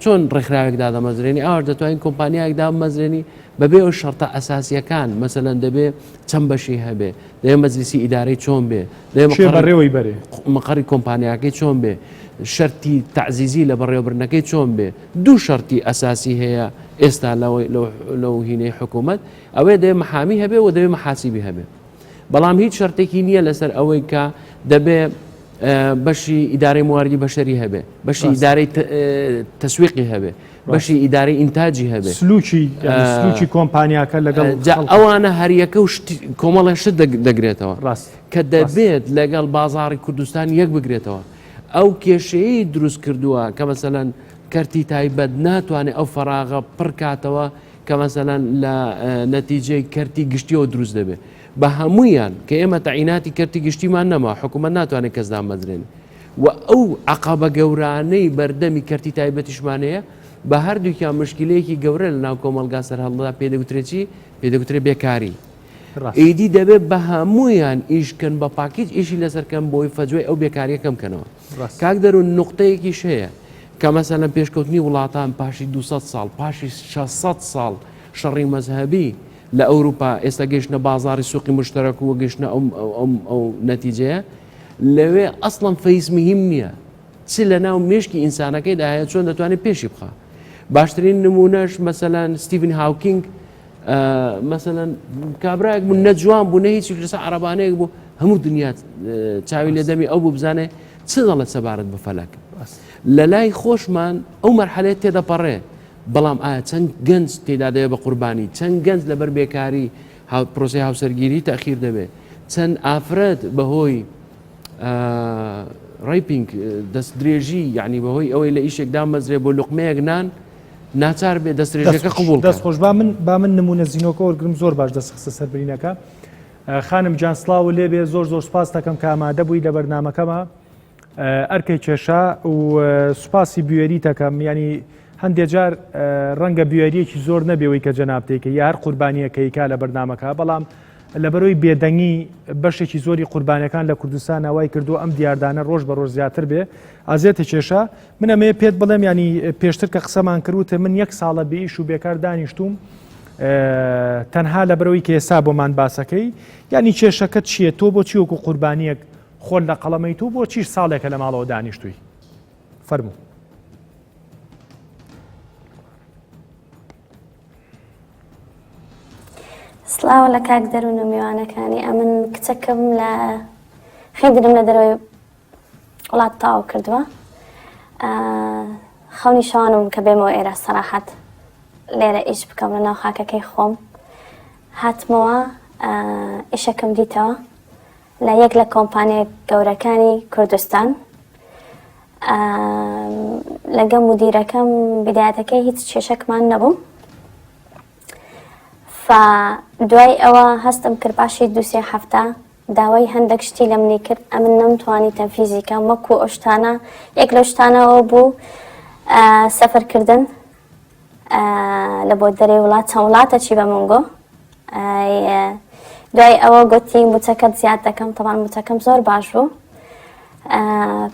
چۆن ڕێکخراوێک دادەمەزرێنی ئاوار دەتوانین کۆمپانیایەک دامەزرێنی بەبێ ئەو شەرتە ئەساسیەکان مەسەەن دەبێ چەند بەشی هەبێ دەێ مەجلیسی ئیدارەی چۆن بێ بەڕێەوەی بەرێ مقڕی کۆمپانیاکەی چۆن بێ شەرتی تعزیزی لە بەڕێوەبرنەکەی چۆن بێ دوو شەرتی ئەساسی هەیە ئێستا لەو هینەی حکوومەت ئەوێ دەێ محامی هەبێ و دەوێ محاسیبی هەبێ بەڵام هیچ شەرتێکی نییە لەسەر ئەوەی کە دەبێ بەشی ئیدارەی مواردی بەشەری هەبێ بەشی ئیدارەی تەسویقی هەبێ بەشی ئیدارەی ئینتاجی هەبێ سلوکی کۆمپانیاکە لەگەڵ ئەوانە هەریەکە و کۆمەڵێ شت دەگرێتەوە ڕاست کە دەبێت لەگەڵ بازاری کوردستان یەک بگرێتەوە ئەو کێشەیەی دروست کردووە کە مەسەلەن کەرتی تایبەت ناتوانێت ئەو فەراغە پڕکاتەوە کە مەسەلەن لە نەتیجەی کەرتی گشتیەوە دروست دەبێت بە هەمویان کە ئێمە تەعیناتی کەرتی گشتیمان نەما حکوومەت ناتوانێت کەس دامەزرێن و ئەو عقابە گەورانەی بەردەمی کەرتی تایبەتیشمانەیە بە هەردووکیان مشکلەیەکی گەورە لە ناو کۆمەلگا سەرهەڵدا پێدەگوترێکی پێدەگوترێ بێکاری ئیدی دەبێت بە هەموویان ئیش کەن بە پاکیج ئیشی لەسەر کەم بۆی فەجوی ئەو بێکاریە کەم کەنەوە کاک دەرون نقطەیەکی شەیە کە مەسە لەم پێشکەوتنی وڵاتان پاشی 200 ساڵ پاشی 600 ساڵ شەڕی مەزهبی لە ئەوروپا ئێستا گەشتە بازاری سوقی مشتەرەک و گەشتە ئەو نەتیجەیە لەوێ ئەسڵم فەیس مهم نییە چ لە ناو مشکی ئینسانەکەی داهەیە چۆن دەتوانێت پێشی بخە باشترین نمونەش مەسەلاەن ستیڤن هاوکینگ مەسەەن کابراێک بوو نەجوان بوو نە هیچ لەسە عربانەیەک بوو هەموو دنیا چاوی لە دەمی ئەو ببزانێ چ دەڵێت سەبارەت بە فەلەک لە لای خۆشمان ئەو مەرحەلێت تێدەپەڕێ بەڵام ئایا چەند گەنج تێدا دەوێت بە قوربانی چەند گەنج لەبەر بێکاری پرۆسی هاوسەرگیری تاخیر دەبێت چەند ئافرەت بەهۆی ڕیپینگ دەست درێژی یعنی بەهۆی ئەوەی لە ئیشێکدا مەزرێ بۆ لقمەیەک نان ناچار بێ دەسترێژەکە قبول دەست خۆش با من با من نمونە زیینۆکە وەرگرم زۆر باش دەست خستە سەربرینەکە خانم جان سلااو لێ بێ زۆر زۆر سپاس دەکەم کە ئامادە بووی لە بەرنمەکەمە ئەرکەی کێشا و سوپاسی بوێری تەکەم ینی هەندێک جار ڕەنگە بوێریەکی زۆر نەبێەوەی کە جەنابتێکە یا هەر قوربانیەکەیکا لە بەرنمەکە بەڵام لەبەرۆی بێدەنگی بەشێکی زۆری قوربانەکان لە کوردستان ناوای کردو ئەم دیاردانە ڕۆژ بە ڕۆژ زیاتر بێ ئازێتە کێشە من ئەمەیە پێت بڵێم ینی پێشتر کە قسەمان کردوتە من یەک ساڵە بێ ئیش و بێکار دانیشتوم تەنها لە برەوەی کە ئێستا بۆمان باسەکەی ینی کێشەکەت چییە تۆ بۆ چیوەکو قوربانیەک خۆل لە قەڵەمەی تو بۆ چیش ساڵێکە لە ماڵەوە دانیشتووی فەرموو سلااو لە کاک دەروون و میوانەکانی ئەمن کچەکەم لە خیدرم لە دەرەوەی وڵات تاو کردووە خەونی شانم کە بێمەوە ئێرە سەراحەت لێرە ئیش بکەم لە ناو خاکەکەی خۆم هاتمەوە ئیشەکەم دیتەوە لە یەک لە کۆمپانیە گەورەکانی کوردستان لەگە مدیرەکەم بدایەتەکەی هیچ کێشەکمان نەبوو دوای ئەوە هەستم کرد باشی دوسێ هەفتە داوای هەندەک شتی لە منی کرد ئەمن نەمتوانی تەنفیزی کەم وەکو ئەو شتانە یەک لەو شتانەوە بوو سەفەرکردن لە بۆ دەرێ وڵات چەند وڵاتە چی بە من گۆ دوای ئەوە گوتی موچەکەت زیاد دەکەم تەوان موچەکەم زۆر باش بوو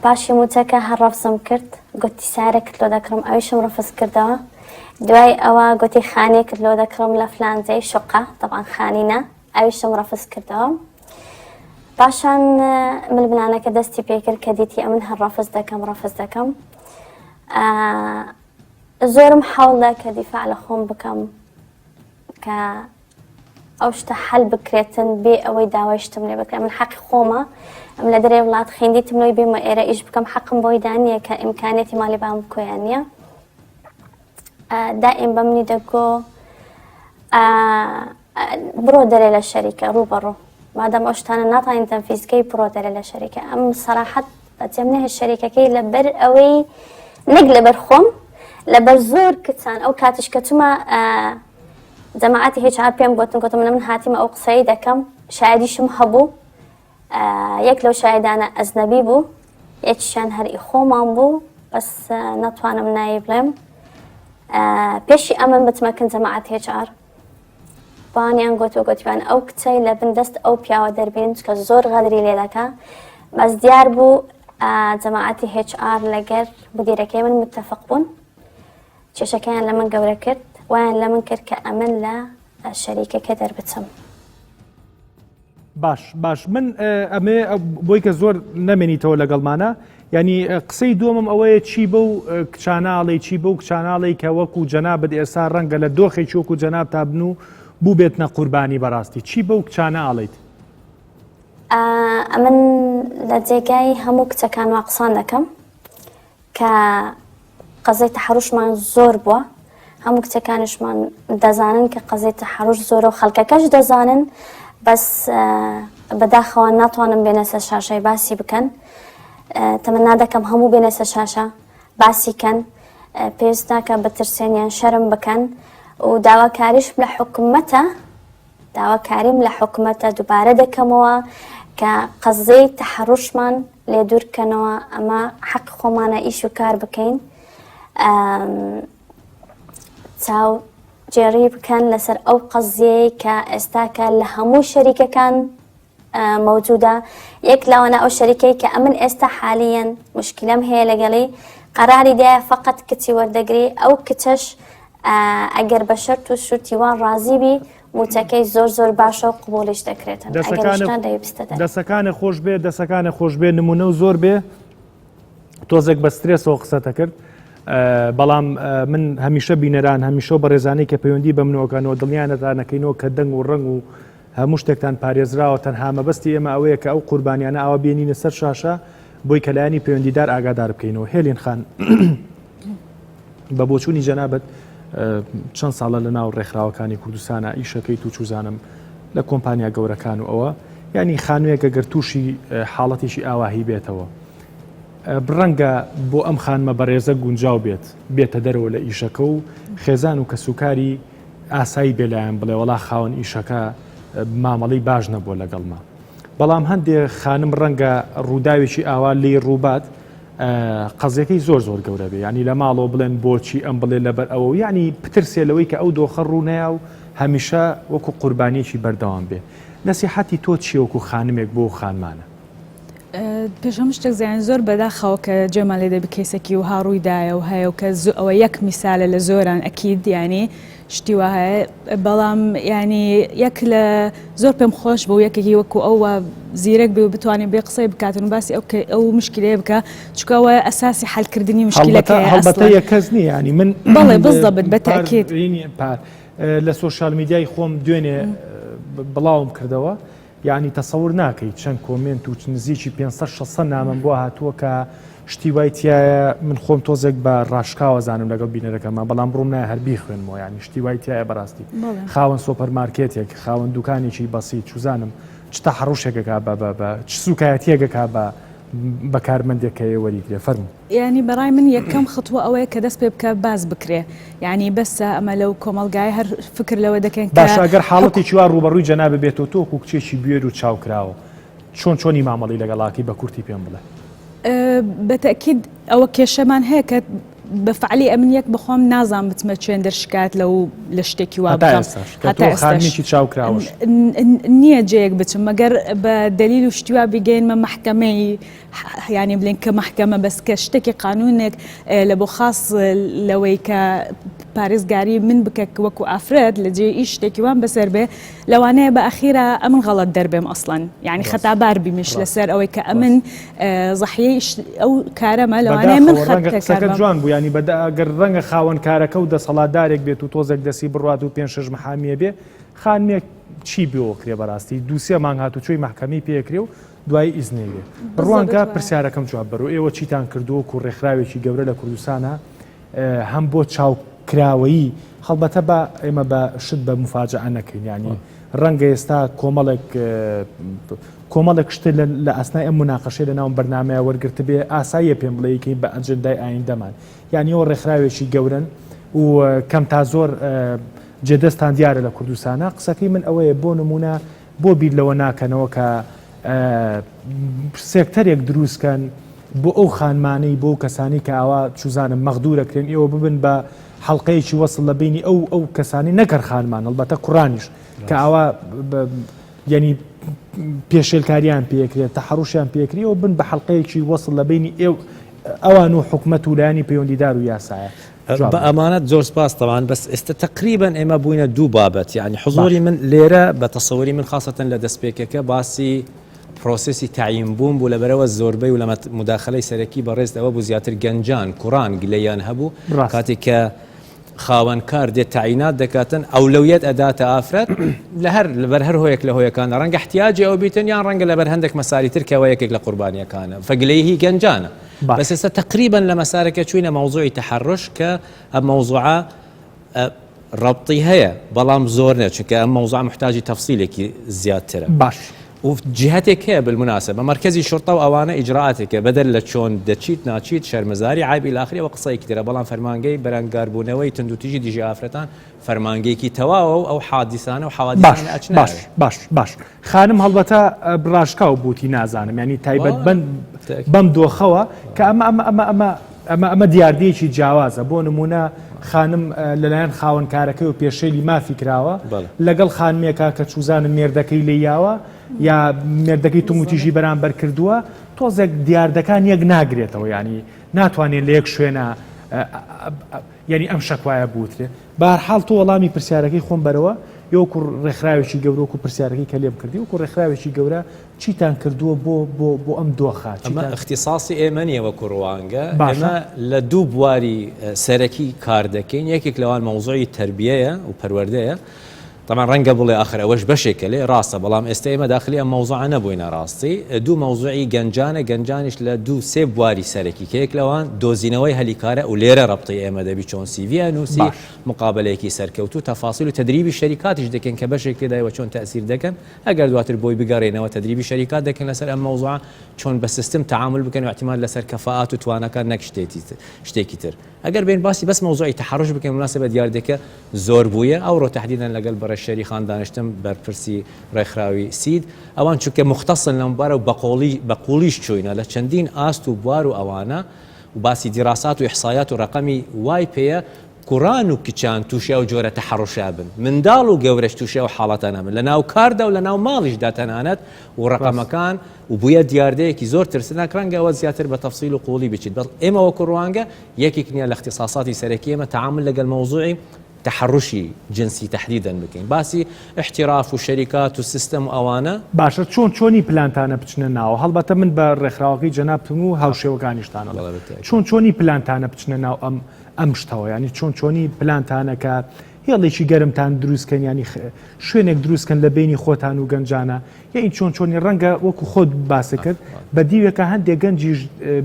پاشی موچەکە هەر ڕەفسم کرد گوتی سارە کرد لۆ دەکڕم ئەویشم ڕفز کردەوە دوای ئەوە گوتی خانێ کرد لۆ دەکڕم لە فلانزەی شقا تەوان خانینە ئەویشم ڕەفز کردەوە پاشان ململانەکە دەستی پێکرد کە دیتی ئەمن هەر ڕەفز دەکەم ڕەفز دەکەم زۆرم حەوڵدا کە دیفاع لە خۆم بکەم کە ئەو شتە حەل بکرێتن بێ ئەوەی داوای شتم لێ بکە من حەقی خۆمە ئەم لە دەرێ وڵات خیندیتم لەوەی بێمە ئێرە ئیش بکەم حەقم بۆی دانیە کە ئیمکانێتی مالی بام کوێیان نییە دائیم بەمنی دەگۆ بڕۆ دەرێ لە شەریکە ڕوو بەڕوو مادەم ئەو شتانە ناتوانین تەنفیزکەی بڕۆ دەرێ لە شەریکە ئەم سەراحەت بەجێم نەهێ شەریکەکەی لەبەر ئەوەی نەک لەبەر خۆم لەبەر زۆر کچان ئەو کاتیش کە چما جەماعاتی هێچا پێم گوتن گوتم من هاتیمە ئەو قسەی دەکەم شایدیشم هەبوو یەک لەو شاهیدانە ئەجنەبی بوو یەکیشان هەر ئی خۆمان بوو بەس نەتوانم ناوی بڵێم پێشی ئەمن بتمە کن جەماعەت هێچار بانیان گوت و گوتیان ئەو کچەی لە بن دەست ئەو پیاوە دەربین کە زۆر غەدری لێ دەکە بەس دیار بوو جەماعەتی HR لەگەر مدیرەکەی من متتەفق بوون کێشەکەیان لە من گەورە کرد وایان لە من کرد کە ئەمن لە شەریکەکە دەربچم. باش باش من ئەمێ بۆی کە زۆر نەمێنیتەوە لەگەڵمانە ینی قسەی دووەمم ئەوەیە چی بە و کچانناڵی چی بە و کچانناڵی کە وەکو جەنا بد ئێستا ڕەنگە لە دۆخێکی وەکو جەناب تابن و بوو بێت نە قوربانی بەڕاستی چی بە و کچانە ئاڵیت ئەمن لە جێگای هەموو کچەکان وا قسان دەکەم کە قەزەی تەحەڕوشمان زۆر بووە هەموو کچەکانشمان دەزانن کە قەزەی تەحەڕوش زۆرە و خەڵکەکەش دەزانن بەس بەداخەوە ناتوانم بێنە سەر شاشای باسی بکەن تەمەنا دەکەم هەموو بێنە سەر شاشە باسی کەن پێویست ناکە بەترسێنیان شەرم بکەن و داواکاریش لە حکومەتە داواکاریم لە حکومەتە دوبارە دەکەمەوە کە قەززەی تەحەڕوشمان لێ دوور بکەنەوە ئەمە حەق خۆمانە ئیش و کار بکەین چاو جێڕی بکەن لەسەر ئەو قەزیەیە کە ئێستاکە لە هەموو شەریکەکان مەوجودە یەک لەوانە ئەو شەریکەی کە ئەمن ئێستا حالیەن مشکلم هەیە لەگەڵی قەراری دایە فقط کچی وەردەگری ئەو کچەش ئەگەر بە شەرت و شوتی وان ڕازی بی موچەکەی زۆر زۆر باشە و قوبولش دەکرێت دەسەکانە خۆش بێ دەسەکانە خۆش بێ نمونە و زۆر بێ تۆزێک بە سترێسەوە قسەتە کرد بەڵام من هەمیشە بینەران هەمیشە بە ڕێزانەی کە پەیوەندی بە منەوەکانەوە دڵنیانەتانەکەینەوە کە دەنگ و ڕنگ و هەموو شتێکتان پارێزراوە، تەنها مەبەستی ئێمە ئەوەیە کە ئەو قوربانیانە ئاوا بێنینە سەر شاشە بۆی کە لایەنی پەیوەندیدار ئاگادار بکەینەوە. هێلین خان، بە بۆچوونی جەنابت چەند ساڵە لە ناو ڕێکخراوەکانی کوردستانە ئیشەکەیت و چوزانم لە کۆمپانیا گەورەکان و ئەوە ینی خانوویەکە گەر تووشی حاڵەتێکی ئاواهی بێتەوە. بڕەنگە بۆ ئەم خانمە بەڕێزە گونجاو بێت بێتە دەرەوە لە ئیشەکە و خێزان و کەسوکاری ئاسایی بێ لایەن بڵێ وەڵا خاوەن ئیشەکە مامەڵەی باش نەبووە لەگەڵما بەڵام هەندێ خانم ڕەنگە ڕووداوێکی ئاوا لی ڕووبات قەزیەکەی زۆر زۆر گەورە بێ ینی لە ماڵەوە بڵێن بۆچی ئەم بڵێ لەبەر ئەوە ینی پترسێ لەوەی کە ئەو دۆخە ڕوونەیە و هەمیشە وەکو قوربانیەکی بەردەوام بێ نەسیحەتی تۆ چیەوەکو خانمێک بۆ خانمانە پێش هەموو شتێک زیان زۆر بەداخەوە کە جێمان لێ دەبی کەیسەکی وها ڕوویدایە و هەیە و کە ئەوە یەک میسالە لە زۆران ئەکید ینی شتی وە هەیە بەڵام ینی یەک لە زۆر پێم خۆش بوو یەکێکی وەکو ئەو زیرەک بێ و بتوانین بێ قسەی بکاتن و باسی ئەو ئەو مشکلێ بکە چکەوە ئەساسی حلکردنی مشکلەکە هەڵبەتە یە کەس نیە ینی من بڵێ بزدەبت بەتاکیێت پار لە سوۆشال میدیای خۆم دوێنێ بڵاوم کردەوە یەعنی تەسەور ناکەی چەند کۆمێنت و نزیکی پێنج سەد شەش سەد نامەم بۆ هاتووە کە شتی وای تایە من خۆم تۆزێک بە ڕاشکاوەزانم لەگەڵ بینەرەکەمان بەڵام بڕوم نایە هەر بیخوێنمەوە یانی شتی وای تایە بەڕاستی بەڵێ خاوەن سۆپەر مارکێتێک خاوەن دوکانێکی بەسیت چوزانم چ تەحەڕوشێکەکە بە بە بە چ سوکایەتیەکەکە بە بە کارمەندێک کە ئێ وەریگرێ فەرموو. یانی بەڕای من یەکەم خطوە ئەوەیە کە دەست پێ بکە باس بکرێ یانی بەسە ئەمە لەو کۆمەلگای هەر فکر لەوە دەکەن باشە گەر حاڵەتی چوا ڕوبەڕووی جەنابە بێتەوە تۆکو کچێکی بێر و چاوکراوە چۆن چۆنی مامەڵی لەگەڵاکی بە کورتی پێم بڵێ بەتەکیید ئەوە کێشەمان هەیە کە بە فعلی ئەمن یەک بخۆم نازان بچمە چێن دەرشکات لە و لە شتێکی وا خانمێکی چاوکراوە نییە جەیەک بچم مەگەر بە دلیل و شتیوا بگەینمە محکمەی یانی بلێن کە مەحکەمە بەس کە شتەکی قانونێک لە بۆ خاس لەوەی کە پارێزگاری من بکە وەکو ئافرەت لە جێ ئی شتێکی وان بەسەر بێ لەوانەیە بە ئەخیرا ئەمن غەڵەت دەربێم ئەسڵەن یعنی خەتابار بیمش لەسەر ئەوەی کە ئەمن زەحیەی ئەو کارەمە لەوانەیە من خەتەکە جوان بوو ینی بەداگەر ڕەنگە خاوەن کارەکە و دەسەڵاتدارێک بێت و تۆزێک دەسی بڕات و پێ شش محامیە بێ خانمێک چی بۆ کرێ بەڕاستی دووسێ مانگ هاتوچۆی محکەمی پێکرێ و دوایی ئیزنێ لێ بڕوان کە پرسیارەکەم جواب بەرو ئێوە چیتان کردووە و ڕێکخراوێکی گەورە لە کوردستانە هەم بۆ چاو کراوەیی هەڵبەتە بە ئێمە بە شت بە مفاجعە نەکەین ینی ڕەنگە ئێستا کۆمەڵێک کۆمەڵێک شتێ لە ئەسنای ئەم مناقەشێ لە ناوم بەرنمەیە وەرگرت بێ ئاساییە پێم بڵێکەی بە ئەجندای ئایندەمان یعنی ئەو ڕێکخراوێکی گەورن و کەم تا زۆر جێدەستان دیارە لە کوردستانە قسەکەی من ئەوەیە بۆ نمونە بۆ بیر لەوە ناکەنەوە کە سێکتەرێک دروست کەن بۆ ئەو خانمانەی بۆ کەسانی کە ئاوا چوزانم مەغدورە کرێن ئێوە ببن بە حلقەیەکی وەصل لە بینی ئەو ئەو کەسانی نەکەر خانمان هەڵبەتە کوڕانیش کە ئاوا ینی پێشێلکاریان پێکرێت تا حڕوشیان پێکری و بن بە حلقەیەکی وەصل لە بینی ئێو ئەوان و حکومت و لایانی پەیوەندیدار و یاسایە بە ئەمانەت زۆر سپاس تەوان بەس ئێستا تەقریبەن ئێمە بووینە دوو بابەت یعنی حزۆری من لێرە بە تەسەوەری من خاستن لە دەستپێکەکە باسی پرۆسسی تعیم بووم بوو لە بەرەوە زۆربەی و لە مداخلەی سەرەکی بەڕێز ئەوە بوو زیاتر گەنجان کوڕان گلەیان هەبوو کاتێک کە خاوەن کار دێت تعینات دەکاتن ئەو لەویەت ئەداتە ئافرەت لە هەر لەبەر هەر هۆیەک لە هۆیەکان ڕەنگە احتیاجی ئەو بیتن یان ڕەنگە لەبەر هەندێک مەساریتر کەەوە یەکێک لە قوربانیەکانە فەگلەیهی گەنجانە بەس ئێستا تەقریبەن لە مەسارەکە چووینە مەوزوعی تەحەڕش کە ئەم مەوزوعە ڕەبتی هەیە بەڵام زۆر نیە چونکە ئەم مەوزوع محتاجی تەفسیلێکی زیاترە باش و جهتێک هەیە بالمناسبە بە مەرکەزی شرطە و ئەوانە ئیجرائاتێکە بەدەر لە چۆن دەچیت ناچیت شەرمەزاری عیب الی اخره و قسەیەکی ترە بەڵام فەرمانگەی بەرەنگاربوونەوەی توندوتیژی دژی ئافرەتان فەرمانگەیەکی تەواوە و ئەو حادیسانە و حەوادیسانە ئەچنە باش باش باش باش خانم هەڵبەتە ڕاشکاو بووتی نازانم ینی تایبەت بند بەم دۆخەوە کە ئەمە ئەمە ئەمە ئەمە ئەمە ئەمە دیاردەیەکی جیاوازە بۆ نمونە خانم لەلایەن خاوەنکارەکەی و پێشێلی مافی کراوە لەگەڵ خانمێکە کە چوزانە مێردەکەی لێ یاوە یا مێردەکەی توموتیژی بەرامبەر کردووە تۆزێک دیاردەکان یەک ناگرێتەوە ینی ناتوانێت لە یەک شوێنە یانی ئەم شەکوایە بوترێ؟ بەهەرحاڵ تۆ وەڵامی پرسیارەکەی خۆم بەرەوە، ئێ وەکو ڕێکخراوێکی گەورە وەکو پرسیارەکەی کە لێم کردی وەکو ڕێکخراوێکی گەورە چیتان کردووە بۆ بۆ بۆ ئەم دۆخە؟ ئەمە چیتان ئیختیساسی ئێمە نییە وەکو ڕوانگە، باشە. ئێمە لە دوو بواری سەرەکی کار دەکەین، یەکێک لەوان مەوزوعی تەربیەیە و پەروەردەیە، تەبعەن ڕەنگە بڵێ ئاخر ئەوەش بەشێکە لێ، ڕاستە بەڵام ئێستە ئێمە داخلی ئەم مەوزوعە نەبووینە ڕاستی دوو مەوزوعی گەنجانە گەنجانیش لە دوو سێ بواری سەرەکی کە یەک لەوان دۆزینەوەی هەلی کارە و لێرە ڕەبتەی ئێمە دەبی چۆن سیڤییە نووسی باش. مقابەلەیەکی سەرکەوتوو تەفاسیل و تەدریبی شەریکاتیش دەکەین کە بەشێک لێدای و چۆن تەئسیر دەکەن ئەگەر دواتر بۆی بگەڕێینەوە تەدریبی شەریکات دەکەین لەسەر ئەم مەوزوعە چۆن بە سیستم تەعامول بکەن و ئیعتیماد لەسەر کەفائات و تواناکان نەک شتێتی شتێکی تر. ئەگەر بێین باسی بەس مەوزوعی تەحەڕوش بکەین بمناسبە دیاردەکە زۆر بوویە ئەوڕۆ تەحدیدەن لەگەل بەڕێز شێری خان دانشتم بەرپرسی ڕێکخراوی سید ئەوان چونکە موختەسن لەم بارە و بەقۆڵی بەقوڵیش چووینە لە چەندین ئاست و بوار و ئەوانە و باسی دیراسات و ئیحسایات و ڕەقەمی وای پێیە کوڕان و کچان تووشی ئەو جۆرە تەحەڕوشە بن منداڵ و گەورەش تووشی ئەو حاڵەتانە بن لەناو کاردا و لەناو ماڵیشدا تەنانەت و ڕەقەمەکان و بویە دیاردەیەکی زۆر ترسناک، رەنگە ئەوە زیاتر بە تەفسیل و قووڵی بچیت، بەڵ ئێمە وەکو روانگە یەکیک نیە لە اختصاصاتی سەرەکی ئێمە تەعامول لەگەل مەوزوعی تەحەروشی جنسی تەحدیدەن بکەین، باسی احتراف و شەریکات و سیستەم و ئەوانە. باشە چۆن چۆنی پلانتانە بچنە ناو، هەڵبەتە من بە رێکخراوەکەی جەنابتم و هاوشێوەکانیشتان ئەڵێم، چۆن چۆنی پلانتانە بچنە ناو ئەم ئەم شتەوە، یانی چۆن چۆنی پلانتانە کە هێڵێکی گەرمتان دروست کەن یانی شوێنێک دروست کەن لە بینی خۆتان و گەنجانە یە این چۆن چۆنی ڕەنگە وەکو خۆت باسە کرد بە دیوێکە هەندێک گەنجیش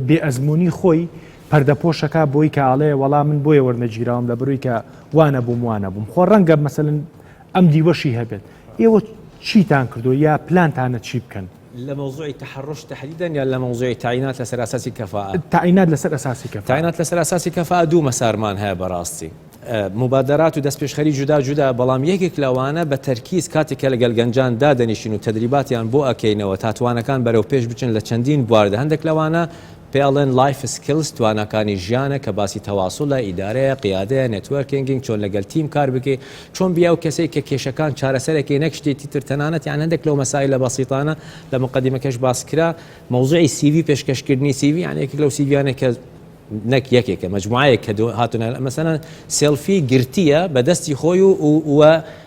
بێ ئەزمموی خۆی پەردەپۆشەکە بۆی کە ئاڵێ وەڵام من بۆیە وەرنەگیراوم لە بروی کە وانە بووم وانە بووم خۆ ڕەنگە مەسەن ئەم دیوەشی هەبێت ئێوە چیتان کردو یا پلانتانە چی بکەن لە مەوزوعی تەحەڕوش تەحدیدەن یان لە مەوزوعی تەعینات لەسەر ئاساسی کەفائە؟ تەعینات لەسەر ئەساسی کەفائە. تەعینات لەسەر ئەساسی کەفائە دوو مەسارمان هەیە بەڕاستی موبادەرات و دەستپێشخەری جودا جودا بەڵام یەکێک لەوانە بە تەرکیز کاتێک کە لەگەل گەنجان دادەنیشین و تەدریباتیان بۆ ئەکەینەوە تا توانەکان بەرەو پێش بچن لە چەندین بواردا هەندێک لەوانە پێ ئەڵێن لایف سکیلس تواناکانی ژیانە کە باسی تەواسولە، ئیدارەیە، قیادەیە، نێتوەرکینگینگ، چۆن لەگەل تیم کار بکەی، چۆن بی ئەو کەسەی کە کێشەکان چارەسەرەکەی نەک شتێتی تر تەنانەت یان هەندێک لەو مەسایلە بەسیتانە لە مقەدیمەکەش باس کرا مەوزوعی سی ڤی پێشکەش کردنی سی ڤی یان یەکێک لەو سی ڤیانەی کە نەک یەکێکە مەجموعەیەک کە هاتونە مەسەلەن سێلفی گرتیە بە دەستی خۆی و و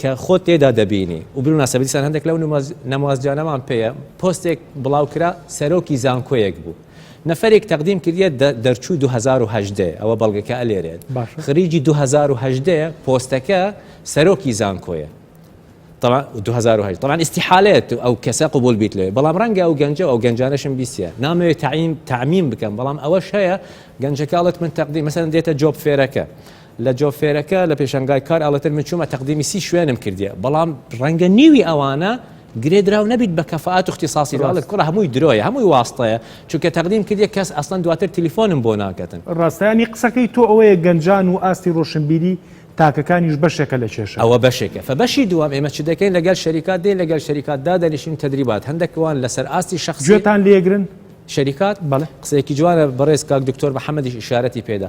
کە خۆت تێدا دەبینی و بناسە بەدیسان هەندێک لەو نموازجانەمان پێیە پۆستێک بڵاو کرا سەرۆکی زانکۆیەک بوو نەفەرێک تەقدیم کردیە دەرچوو 2010 ئەوە بەڵگەکە ئەلێرێت خریجی 2010 پۆستەکە سەرۆکی زانکۆیە طبعا 2008 طبعا استحالات او کەسە قبول بیت لێ بەڵام ڕەنگە ئەو گەنجە ئەو گەنجانەشم بیسە نامەوێت تعیم تعمیم بکەم بەڵام ئەوەش هەیە گەنجەکەڵت من تەقدی مەسەن دێتە جۆب فێرەکە لە جۆفێرەکە لە پێشانگای کار ئەڵێتر من چوومە تەقدیمی سی شوێنم کردیە بەڵام ڕەنگە نیوی ئەوانە گرێ دراو نەبیت بە کەفاات و اختصاصی لە ئەڵێت کوڕە هەمووی درۆیە هەمووی واستەیە چونکە تەقدیم کردیە کەس ئەسڵەن دواتر تلیفۆنم بۆ ناکەتن. ڕاستە یانی قسەکەی تۆ ئەوەیە گەنجان و ئاستی ڕۆشنبیری تاکەکانیش بەشێکە لە کێشە. ئەوە بەشێکە فە بەشی دووەم ئێمە چ دەکەین لەگەل شەریکات دێین لەگەل شەریکات دادەنیشین و تەدریبات هەندەک وان لەسەر ئاستی شەخسی گوێتان لێگرن شەریکات بەڵێ. قسەیەکی جوانە بەڕێز کاک دکتۆر محمدیش ئیشارەتی پێدا.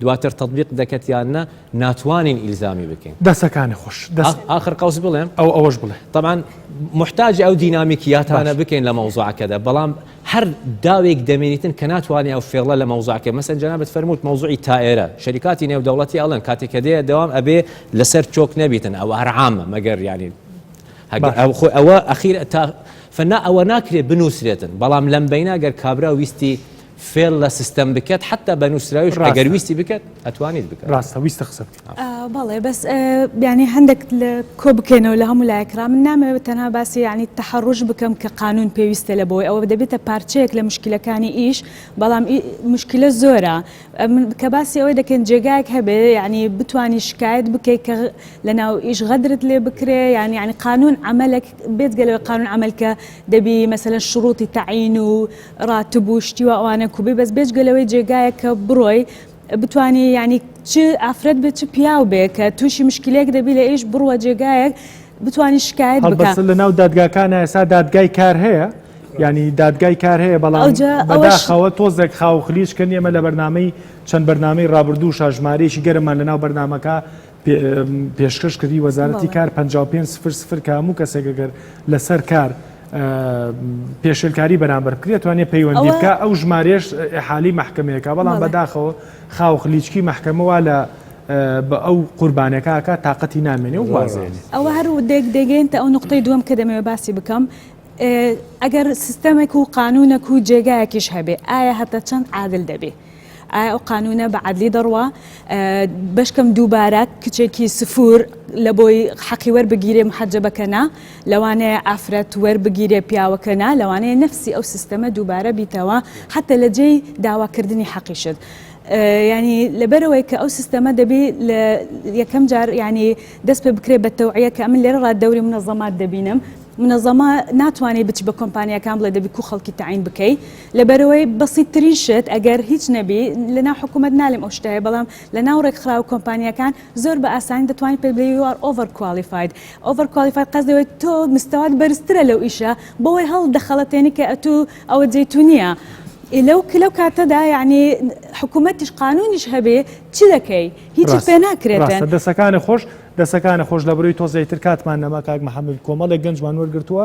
دواتر تەتبیق دەکەت یان نا ناتوانین ئیلزامی بکەین. دەسەکانت خۆش دەست ئاخر قەوس بڵێم ئەو ئەوەش بڵێ. تەبعەن موحتاجە ئەو دینامیکیاتانە باش. بکەین لە مەوزوعەکەدا بەڵام هەر داوێک دەمێنیتن کە ناتوانێ ئەو فێڵە لە مەوزوعەکەی مەسەن جەنابت فەرمووت مەوزوعی تائێرە شەریکاتی نێودەوڵەتی ئەڵێن کاتێک کە دێیە دەوام ئەبێ لەسەر چۆک نەبیتن ئەوە هەر عامە مەگەر یانی هەگە باش. ئەو خۆ ئەوە ئەخیر تا فەنا ئەوە ناکرێ بنووسرێتن بەڵام لەم بەینا گەر کابرا ویستی فێڵ لە سیستەم بکەت حتا بە نووسراویش ڕاگەر ویستی بکەت ئەتوانیت بکە ڕاستە ویستە قسە بەڵێ بەس بیانی هەندێک لە کۆ بکەینەوە لە هەموو لایکرا من نامەوێت تەنها باسی ینی تەحڕژ بکەم کە قانون پێویستە لە بۆی ئەوە دەبێتە پارچەیەک لە مشکلەکانی ئیش بەڵام مشکلە زۆرە کە باسی ئەوەی دەکەن جێگایك هەبێ ینی بتانی شکایت بکەیت کە لە ناو ئیش غەدرت لێ بکرێ یان ینی قانون عملك بێت گەلەوە قانون عملکە دەبی مەسەلەن شڕوتی تەعین و ڕاتب و شتی و ئەوانە کوبی بەس بێجگە لەوەی جێگایە کە بڕۆی بتانی ینی چ ئافرەت بێت چ پیاو بێ کە تووشی مشکلێک دەبی لە ئیش بڕوە جێگایەک بتانی شکایت بکە لە ناو دادگاکان ئێسا دادگای کار هەیە ینی دادگای کار هەیە بەڵام بەداخەوە تۆزێک خاوخلیش کە نیەمە لە بەرنمەی چەند بەرنمەی ڕابردوو شاژمارێکی گەرممان لە ناو بەرنمەکە پێشکەش کردی وەزارەتی کار 55 سفر سفر کە هەموو کەسێک گەر لەسەر کار پێشلکاری بەرامبەر بکرێت توانێ پەیوەندی بکە ئەو ژمارێش حالی محکمەیەەکە بەڵام بەداخەوە خاوخ لیچکی محکمەوە لە بە ئەو قوربانەکەکە تااقەتی نامێنێ و وازێن ئەوە هەر و دێک دەگەێنتە ئەو نقطەی دووەم کە دەمەوێ باسی بکەم ئەگەر سیستەمێک و قانونەک و جێگایەکیش هەبێ ئایا هەتا چەند عادل دەبێ ئایا ئەو قانوونە بە عەدلی دەڕوا بەشکەم دووبارە کچێکی سفور لە بۆی حەقی وەربگیرێ محەجەبەکەنا لەوانەیە ئافرەت وەربگیرێ پیاوەکەنا لەوانەیە نفسی ئەو سیستەمە دووبارە بیتەوە حتە لە جێی داواکردنی حەقیشت. ینی لەبەرەوەی کە ئەو سیستەمە دەبی لە یەکەم جار ینی دەست پێ بکرێت بە تەوعە کە ئەمن لێرە ڕات دەوری منەزەمات دەبینم منەزەما ناتوانانی بچ بە کۆمپانیەکان بڵێ دەبی کو خەڵکی تعین بکەی لە بەرەوەی بەسیت ترین شت ئەگەر هیچ نەبی لە ناو حکومەت نالێم ئەو شتە هەیە بەڵام لە ناو ڕێکخراو کۆمپانیاکان زۆر بە ئاسانی دەتوانین پێت بڵێ یو ئار ئۆڤەر کوالیفاید ئۆڤەر کوالیفاید قەست دەوێت تۆ مستەوات بەرزترە لەو ئیشە بۆی هەڵ دەخەڵەتێنی کە ئەتوو ئەوە جێی تو نییە لەو لەو کاتەدا یعنی حکوومەتیش قانونیش هەبێ چی دەکەی هیچت پێ ناکرێتن دەسەکانە خۆش دەسەکانە خۆش لە بروی تۆزێتر کاتمان نەما کاک محمد کۆمەڵێک گەنجمان وەرگتووە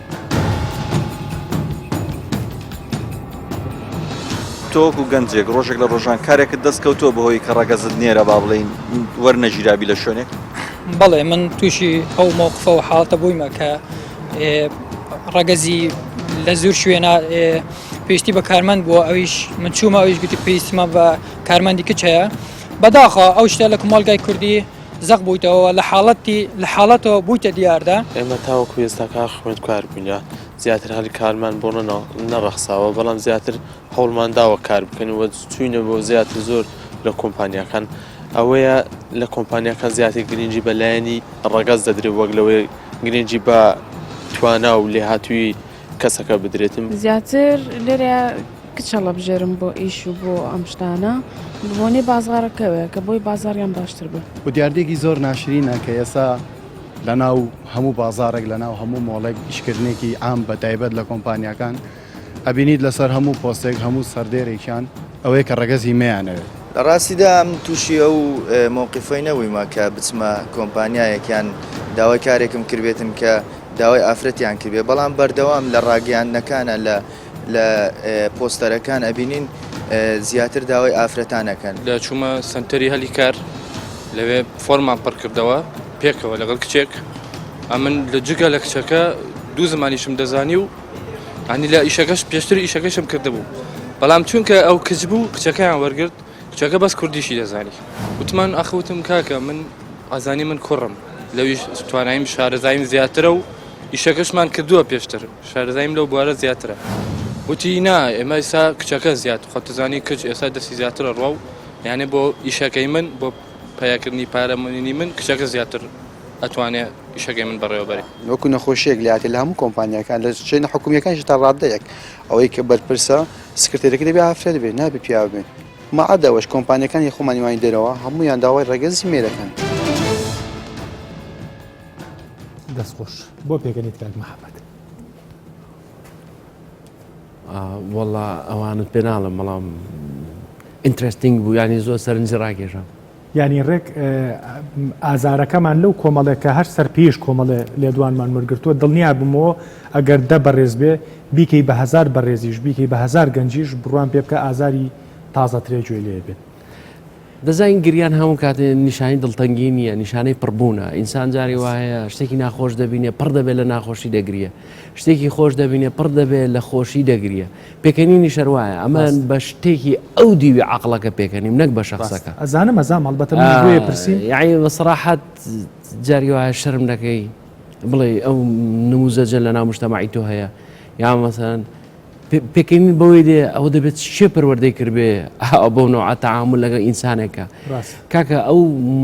تۆکو گەنجێک ڕۆژێک لە ڕۆژان کارێکت دەست کەوتۆ بەهۆی کە ڕەگەزت نێرە با بڵین وەرنەژیرابی لە شوێنێک بەڵێ من تووشی ئەو مۆقفە و حاڵتە بوویمە کە ڕەگەزی لە زور شوێنە پێشتی بە کارمەند بووە ئەویش من چوومە ئەویش گوتی پێیسمە بە کارمەندی کچەیە بەداخە ئەو شتە لە کومەلگای کوردی زەق بوویتەوە و لە حاڵەتی لە حاڵەتەوە بوویتە دیاردە. ئێمە تاوەکو ئێستا کار خوێندکار بووینە، زیاتر هەلی کارمان بۆ نەڕەخساوە، بەڵام زیاتر هەوڵمان داوە کار بکەین و چووینە بۆ زیاتر زۆر لە کۆمپانیاکان، ئەوەیە لە کۆمپانیاکان زیاتر گرنگی بە لایەنی ڕەگەز دەدرێت وەک لەوەی گرنگی بە توانا و لێهاتوویی کەسەکە بدرێتم. زیاتر لێرە کچ هەڵەبژێرم بۆ ئیش و بۆ ئەم شتانە بە بۆنەی بازاڕەکەوێ کە بۆی بازاڕیان باشتر بێ. و دیاردەیەکی زۆر ناشرینە کە ئێستا لە ناو هەموو بازاڕێک لە ناو هەموو مۆڵێک ئیشکردنێکی عام بە تایبەت لە کۆمپانیاکان ئەبینیت لەسەر هەموو پۆستێک هەموو سەردێرێکیان ئەوەیە کە ڕەگەزی مەیانەوێت. لە ڕاستیدا من تووشی ئەو مەوقیفەی نەبوویمە کە بچمە کۆمپانیایەک یان داوای کارێکم کردبێتن کە داوای ئافرەتیان کردبێ بەڵام بەردەوام لە ڕاگەیاندنەکانە لە لە پۆستەرەکان ئەبینین زیاتر داوای ئافرەتانەکەن لە چوومە سنتەری هەلی کار لەوێ فۆرمان پڕکردەوە پێکەوە لەگەڵ کچێک ئەمن لە جگە لە کچەکە دوو زمانیشم دەزانی و ئەنی لە ئیشەکەش پێشتر ئیشەکەشم کردبوو بەڵام چونکە ئەو کچ بوو کچەکەیان وەرگرت کچەکە بەس کوردیشی دەزانی وتمان ئاخ وتم کاکە من ئازانی من کوڕم لەویش توانایم شارەزایم زیاترە و ئیشەکەشمان کردووە پێشتر شارەزایم لەو بوارە زیاترە وتی نا ئێمە ئسا کچەکە زیات خۆتزانی کچ ئێستا دەستی زیاترە ڕوا و یانێ بۆ ئیشەکەی من بۆ پیاکردنی پارەمەنی من کچەکە زیاتر ئەتوانێ ئیشەکەی من بەڕێوەبەری وەکو نەخۆشیەک لاتێ لە هەموو کۆمپانیەکان لە چێنە حکومیەکانشی تا ڕاددەیەک ئەوەی کە بەرپرسە سکرتێرەکە دەبێ ئافرەت بێت نابێ پیاو بێت مەعەدا ئەوەش کۆمپانیەکانی خۆمانی وانی دەرەوە هەمویان داوای ڕەگەزی مێرەکەن. دەست خۆش بۆ پێکەنیت کاک محەممەد. وەڵا ئەوانت پێ ناڵم بەڵام ئینترستنگ بوو ینی زۆر سەرنج ڕاکێشام. یانی ڕێک ئازارەکەمان لەو کۆمەڵێک کە هەر سەر پێیش کۆمەڵێ لێدوانمان وەرگرتووە دڵنیا بمەوە ئەگەر دە بەڕێز بێ بیکەی بە هەزار بەڕێزیش بیکەی بە هەزار گەنجیش بڕوان پێ بکە ئازاری تازەترێ گوێ لێ بێت. دەزانین گریان هەموو کاتێ نیشانی دڵتەنگی نییە نیشانەی پڕبوونە ئینسان جاری وایە شتێکی ناخۆش دەبینێ پڕ دەبێت لە ناخۆشی دەگریە شتێکی خۆش دەبینێ پڕ دەبێت لە خۆشی دەگریە پێکەنینیش هەر وایە، ئەمە بەس. بە شتێکی ئەو دیوی عەقڵەکە پێکەنیم نەک بە ڕاست شەخسەکە. ئەزانم ئەزانم هەڵبەتە منیش بۆیە ئا پرسیم. یەعنی بە سەراحەت جارێ وایە شەرم نەکەی بڵێی ئەو نموزەجە لە ناو مژتەمەعی تۆ هەیە یا مەسەلەن پێ پێکەنین بەوەی دێ ئەوە دەبێت چێ پەروەردەی کردبێ ئا بەو نەوعە تەعامول لەگەڵ ئینسانێکا ڕاست. کاکە ئەو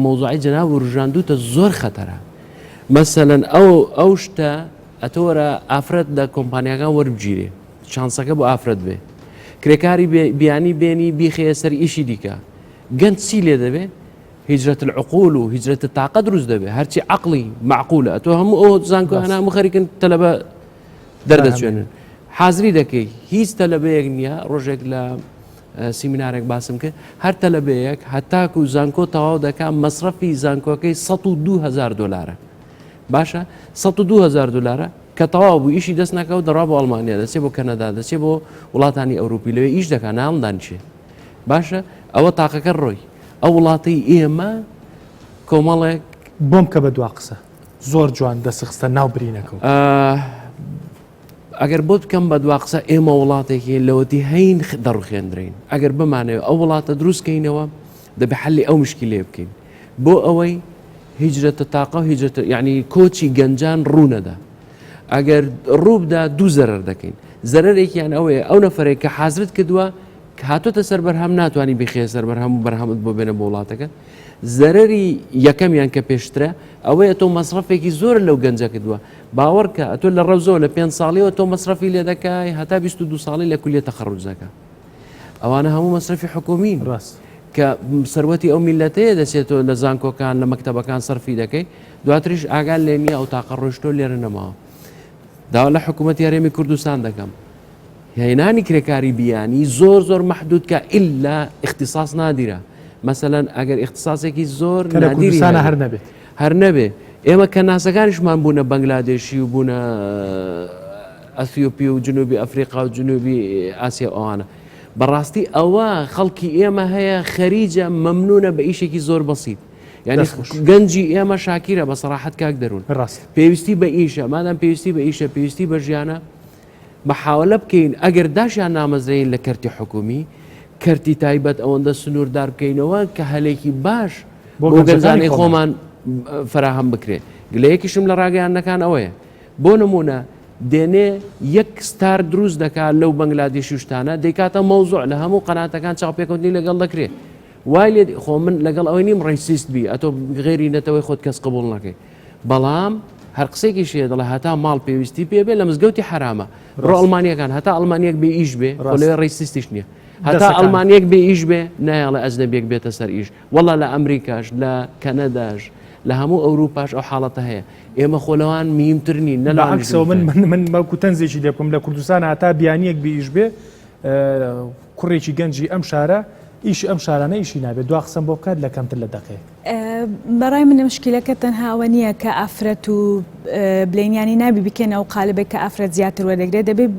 مەوزوعەی جەنابت وروژاندووتە زۆر خەتەرە مەسەلەن ئەو ئەو شتە. ئەتۆ وەرە ئافرەت لە کۆمپانیاکان وەربگیرێ چانسەکە بۆ ئافرەت بێ کرێکاری بیانی بێنی بیخەیە سەر ئیشی دیکە گەنج چی لێ دەبێ هجرەت العقول و هجرەت تااقە دروست دەبێ هەرچی عقلی معقولە تۆ هەموو ئەو زانکۆ هەنا مخەریکن تەلەبە دەردەچێنن حازری دەکەی هیچ تەلەبەیەک نییە ڕۆژێک لە سیمینارێک باسم کرد هەر تەلەبەیەک هەتاکو زانکۆ تەواو دەکات مەصرفی زانکۆکەی 1 دوهزار دلارە باشە سە و دوهزار دلارە کە تەواو بوو ئیشی دەست ناکەوت دەڕا بۆ ئەڵمانیا دەچێ بۆ کەنەدا دەچێ بۆ وڵاتانی ئەوروپی لەوێ ئیش دەکە ناومدانچێ باشە ئەوە تاقەکە ڕۆی ئەو وڵاتی ئێمە کۆمەڵێک بۆم کە بە دوا قسە زۆر جوان دەسخستە ناو برینەکە ئەگەر بۆت بکەم بە دوا قسە ئێمە وڵاتێکی لەوەتی هەین دەڕخێندرین ئەگەر بمانەوە ئەو وڵاتە دروستکەینەوە دەبێ حەلی ئەو مشکیلەیە بکەین بۆ ئەوەی هیجرەتە تاقە و هیجرەتە یعنی کۆچی گەنجان ڕوونەدا ئەگەر ڕووبدا دوو زەرەر دەکەین زەرەرێکیان ئەوەیە ئەو نەفرێک کە حازرت کردووە هاتۆتە سەر بەرهەم ناتوانانی بخێ سەر بەرهەم و بەرهەمت بۆ بێنە بۆ وڵاتەکە زەرری یەکەمیان کە پێشترە ئەوەیە تۆ مەصرفێکی زۆر لەو گەنجە کردووە باوەڕکە ئەتۆ لە ڕەوزەوە لە پێ ساڵیەوە تۆ مەصرفی لێ دەکای هەتا 22 ساڵی لە کولیە تەخەڕوجەکە ئەوانە هەموو مەسرفی حکومی ڕاست کە سەروەتی ئەو میلەتەیە دەچێتەوە لە زانکۆکان لە مەکتتەبەکان سەرفی دەکەی دواتریش ئاگال لێ نییە ئەو تاقە ڕۆشتۆ لێرە نەماوە داوا لە حکوومەت یارێمی کوردستان دەکەم هێنانی کرێکاری بیانی زۆر زۆر مححدود کە ئللا اختصاص نادیرە مەمثلەن ئەگەر اختصاسێکی زۆر کوردستانە هەر نەبێت. هەر نەبێ ئێمە کە ناسەکانیشمان بوونە بەنگلادێشی و بوونە ئەسیۆپی و جنوبی ئەفریقا و جنوبی ئاسیا ئەوانە بەڕاستی ئەوە خەڵکی ئێمە هەیە خەریجە مەمنونە بە ئیشێکی زۆر بەسییت یعنی گەنجی ئێمە شاکیرە بە سەراحەت کاک دەروون ڕاست پێویستی بە ئیشە مادەم پێویستی بە ئیشە پێویستی بە ژیانە محاولە بکەین ئەگەر داشیان نامەزرێین لە کەرتی حکومی، کەرتی تایبەت ئەوەندە سنووردار بکەینەوە کە هەلێکی باش بۆ گەنجانی خۆمان فەراهەم بکرێ. گلەیەکیشم لە ڕاگەیاندنەکان ئەوەیە، بۆ نموونە دێنێ یەک ستار دروست دەکات لەو بەنگلادیشی و شتانە دەیکاتە مەوزوع لە هەموو قەناتەکان چاوپێکەوتنی لەگەڵ دەکرێ. وای لێ خۆ من لەگەڵ ئەوەی نیم ڕەیسیست بی ئەتۆ غێری نەتەوەی خۆت کەس قبوڵ نەکەی. بەڵام هەر قسێکیش هەیە دەڵێ هەتا ماڵ پێویستی پێ بێ لە مزگەوتی حرامە بڕۆ ڕاست. ئەڵمانیەکان هەتا ئەڵمانیەک بێ ئیش بێ ڕاست. خۆلێ ڕیسیستیش نییە هەتا دەسەکان. ئەڵمانیەک بێ ئیش بێ نایەڵە ئەجنەبیەک بێتە سەر ئیش وەڵا لە ئەمریکاش لە کەنەداش لە هەموو ئەوروپاش ئەو حاڵەتە هەیە ئێمە خۆ لەوان میینتر نین نە لەوانیش بەعەکسەوە من دیمتر. من من بەڵکو تەنزێکی لێ بکەم لە کوردستان هەتا بیانییەک بێ ئیش بێ اه، کوڕێکی گەنجی ئەم شارە ئیشی ئەم شارانە ئیشی نابێت دوا قسەم بۆ بکات لە کەمتر لە دەقەیەک بەڕای من مشکیلەکە تەنها ئەوە نییە کە ئافرەت و بلینیانی نابی بکەنە و قالبێک کە ئافرەت زیاتر وەدەگرێت دەبێت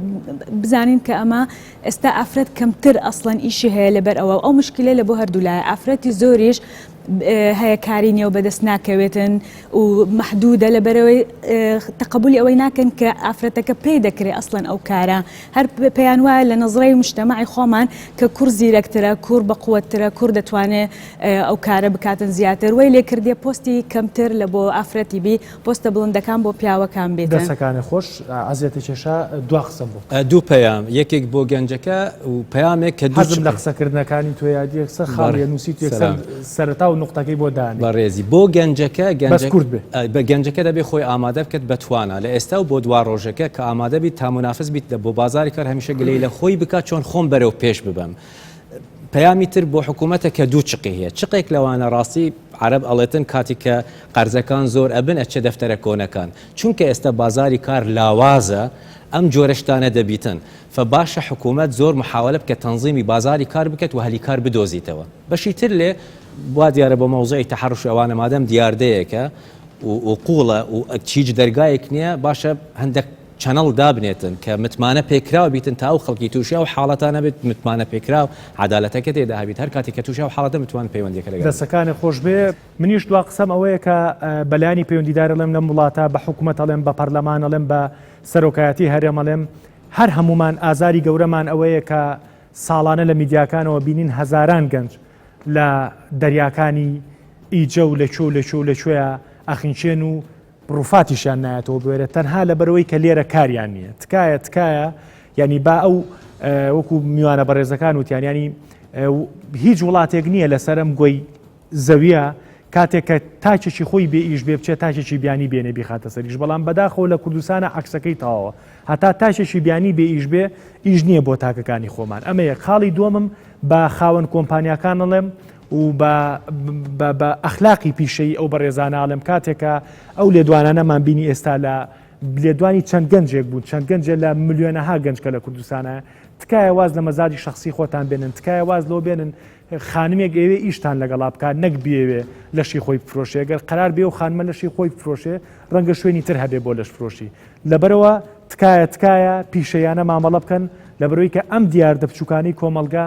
بزانین کە ئەمە ئێستا ئافرەت کەمتر ئەسڵەن ئیشی هەیە لەبەر ئەوە ئەو مشکلە لە بۆ هەردوو لای ئافرەتی زۆریش هەیە کاری نیە و بەدەست ناکەوێتن و محدودە لە بەرەوەی تقبلی ئەوەی ناکەن کە ئافرەتەکە پێی دەکرێت ئەسڵەن ئەو کارە هەر پێیان وایە لە نظرەی مشتەمەعی خۆمان کە کوڕ زیرەکترە کوڕ بە قوترە کوڕ دەتوانێت ئەو کارە بکاتن زیاتر وەی لێ کردیە پۆستی کەمتر لە بۆ ئافرەتی بی پۆستە بڵندەکان بۆ پیاوەکان بێتن. دەسەکانت خۆش ئەزیەتە کێشا دوا قسەم بۆ بکە. دوو پەیام یەکێک بۆ گەنجەکە و پەیامێک کە دوو چ. حەزم لە قسەکردنەکانی تۆیە یەکسەر خاڵیە نوسیت و یەکسەر سەرەتا و نوقتەکەی بۆ دانێ. بەڕێزی بۆ گەنجەکە بەس کورت بێ. گەنجەکە گەنجەکە دەبێ خۆی ئامادە بکەت بە توانا لە ئێستا و بۆ دوا ڕۆژەکە کە ئامادە بیت تا منافس بیت بۆ بازاری کار هەمیشە گلەی لە خۆی بکات چۆن خۆم بەرەو پێش ببەم پەیامی تر بۆ حکومەتە کە دوو چقی هەیە چقێک لەوانە ڕاستی عەرەب ئەڵێتن کاتیک کە قەرزەکان زۆر ئەبن ئەچێ دەفتەرە کۆنەکان چونکە ئێستا بازاری کار لاوازە ئەم جۆرە شتانە دەبیتن فە باشە حکومەت زۆر محاوەلە بکە تەنزیمی بازاری کار بکەت و هەلی کار بدۆزیتەوە بەشی تر لێ وا دیارە بۆ مەوزوعی تەحەڕوشی ئەوانە مادەم دیاردەیەکە و قوڵە و هیچ دەرگایەک نیە باشە هەندەک چەنەڵ دابنێتن کە متمانە پێکراو بیتن تا ئەو خەڵکی توشی ئەو حاڵەتە نەبێت متمانە پێکراو عەدالەتەکە تێدا هەبیت هەر کاتێک کە توشی ئەو حاڵەتە بتوان پەیوەندیەکە لەگەڵ. دەستەکانت خۆش بێ منیش دوا قسەم ئەوەیە کە بە لایەنی پەیوەندیدار ئەڵێم لەم وڵاتە بە حکومەت ئەڵێم بە پەرلەمان ئەڵێم بە سەرۆکایەتی هەرێم ئەڵێم هەر هەموومان ئازاری گەورەمان ئەوەیە کە ساڵانە لە میدیاکانەوە بینین هەزاران گەنج لە دەریاکانی ئیجە و لە کوێ و لە کوێ و لە کوێ ئەخنچێن و روفاتیشیان نایەتەوە بوێرە تەنها لەبەرەوەی کە لێرە کاریان نییە تکایە تکایە ینی با ئەو وەکو میوانە بەڕێزەکان وتیان ینی هیچ وڵاتێک نییە لەسەرم گۆی زەویە کاتێک کە تاچێکی خۆی بێ ئیش بێ بچێت تاچێکی بیانی بێنێ بیخاتە سەریش بەڵام بەداخۆ لە کوردستانە عکسەکەی تاوە هەتا تاچێکی بیانی بێ ئیش بێ ئیش نییە بۆ تاکەکانی خۆمان ئەمە یەک خاڵی دومم بە خاوەن کۆمپانیاکان نڵێم و بە بە بە ئەخلاقی پیشەیی ئەو بەڕێزانە ئەڵێم کاتێکە ئەو لێدوانانەمان بینی ئێستا لە لێدوانی چەند گەنجێک بوون چەند گەنجێ لە ملیۆنەها گەنج کە لە کوردستانە تکایە واز لە مەزاجی شخصی خۆتان بێنن تکایە واز لەوە بێنن خانمێک ئێوێ ئیشتان لەگەڵا بکات نەک بێوێ لەشی خۆی بفرۆشێ گەر قرار بێ و خانمە لەشی خۆی بفرۆشێ ڕەنگە شوێنی تر هەبێ بۆ لەش فرۆشی لەبەرەوە تکایە تکایە پیشەیانە مامەڵە بکەن لە بەرۆی کە ئەم دیاردە بچووکانی کۆمەلگا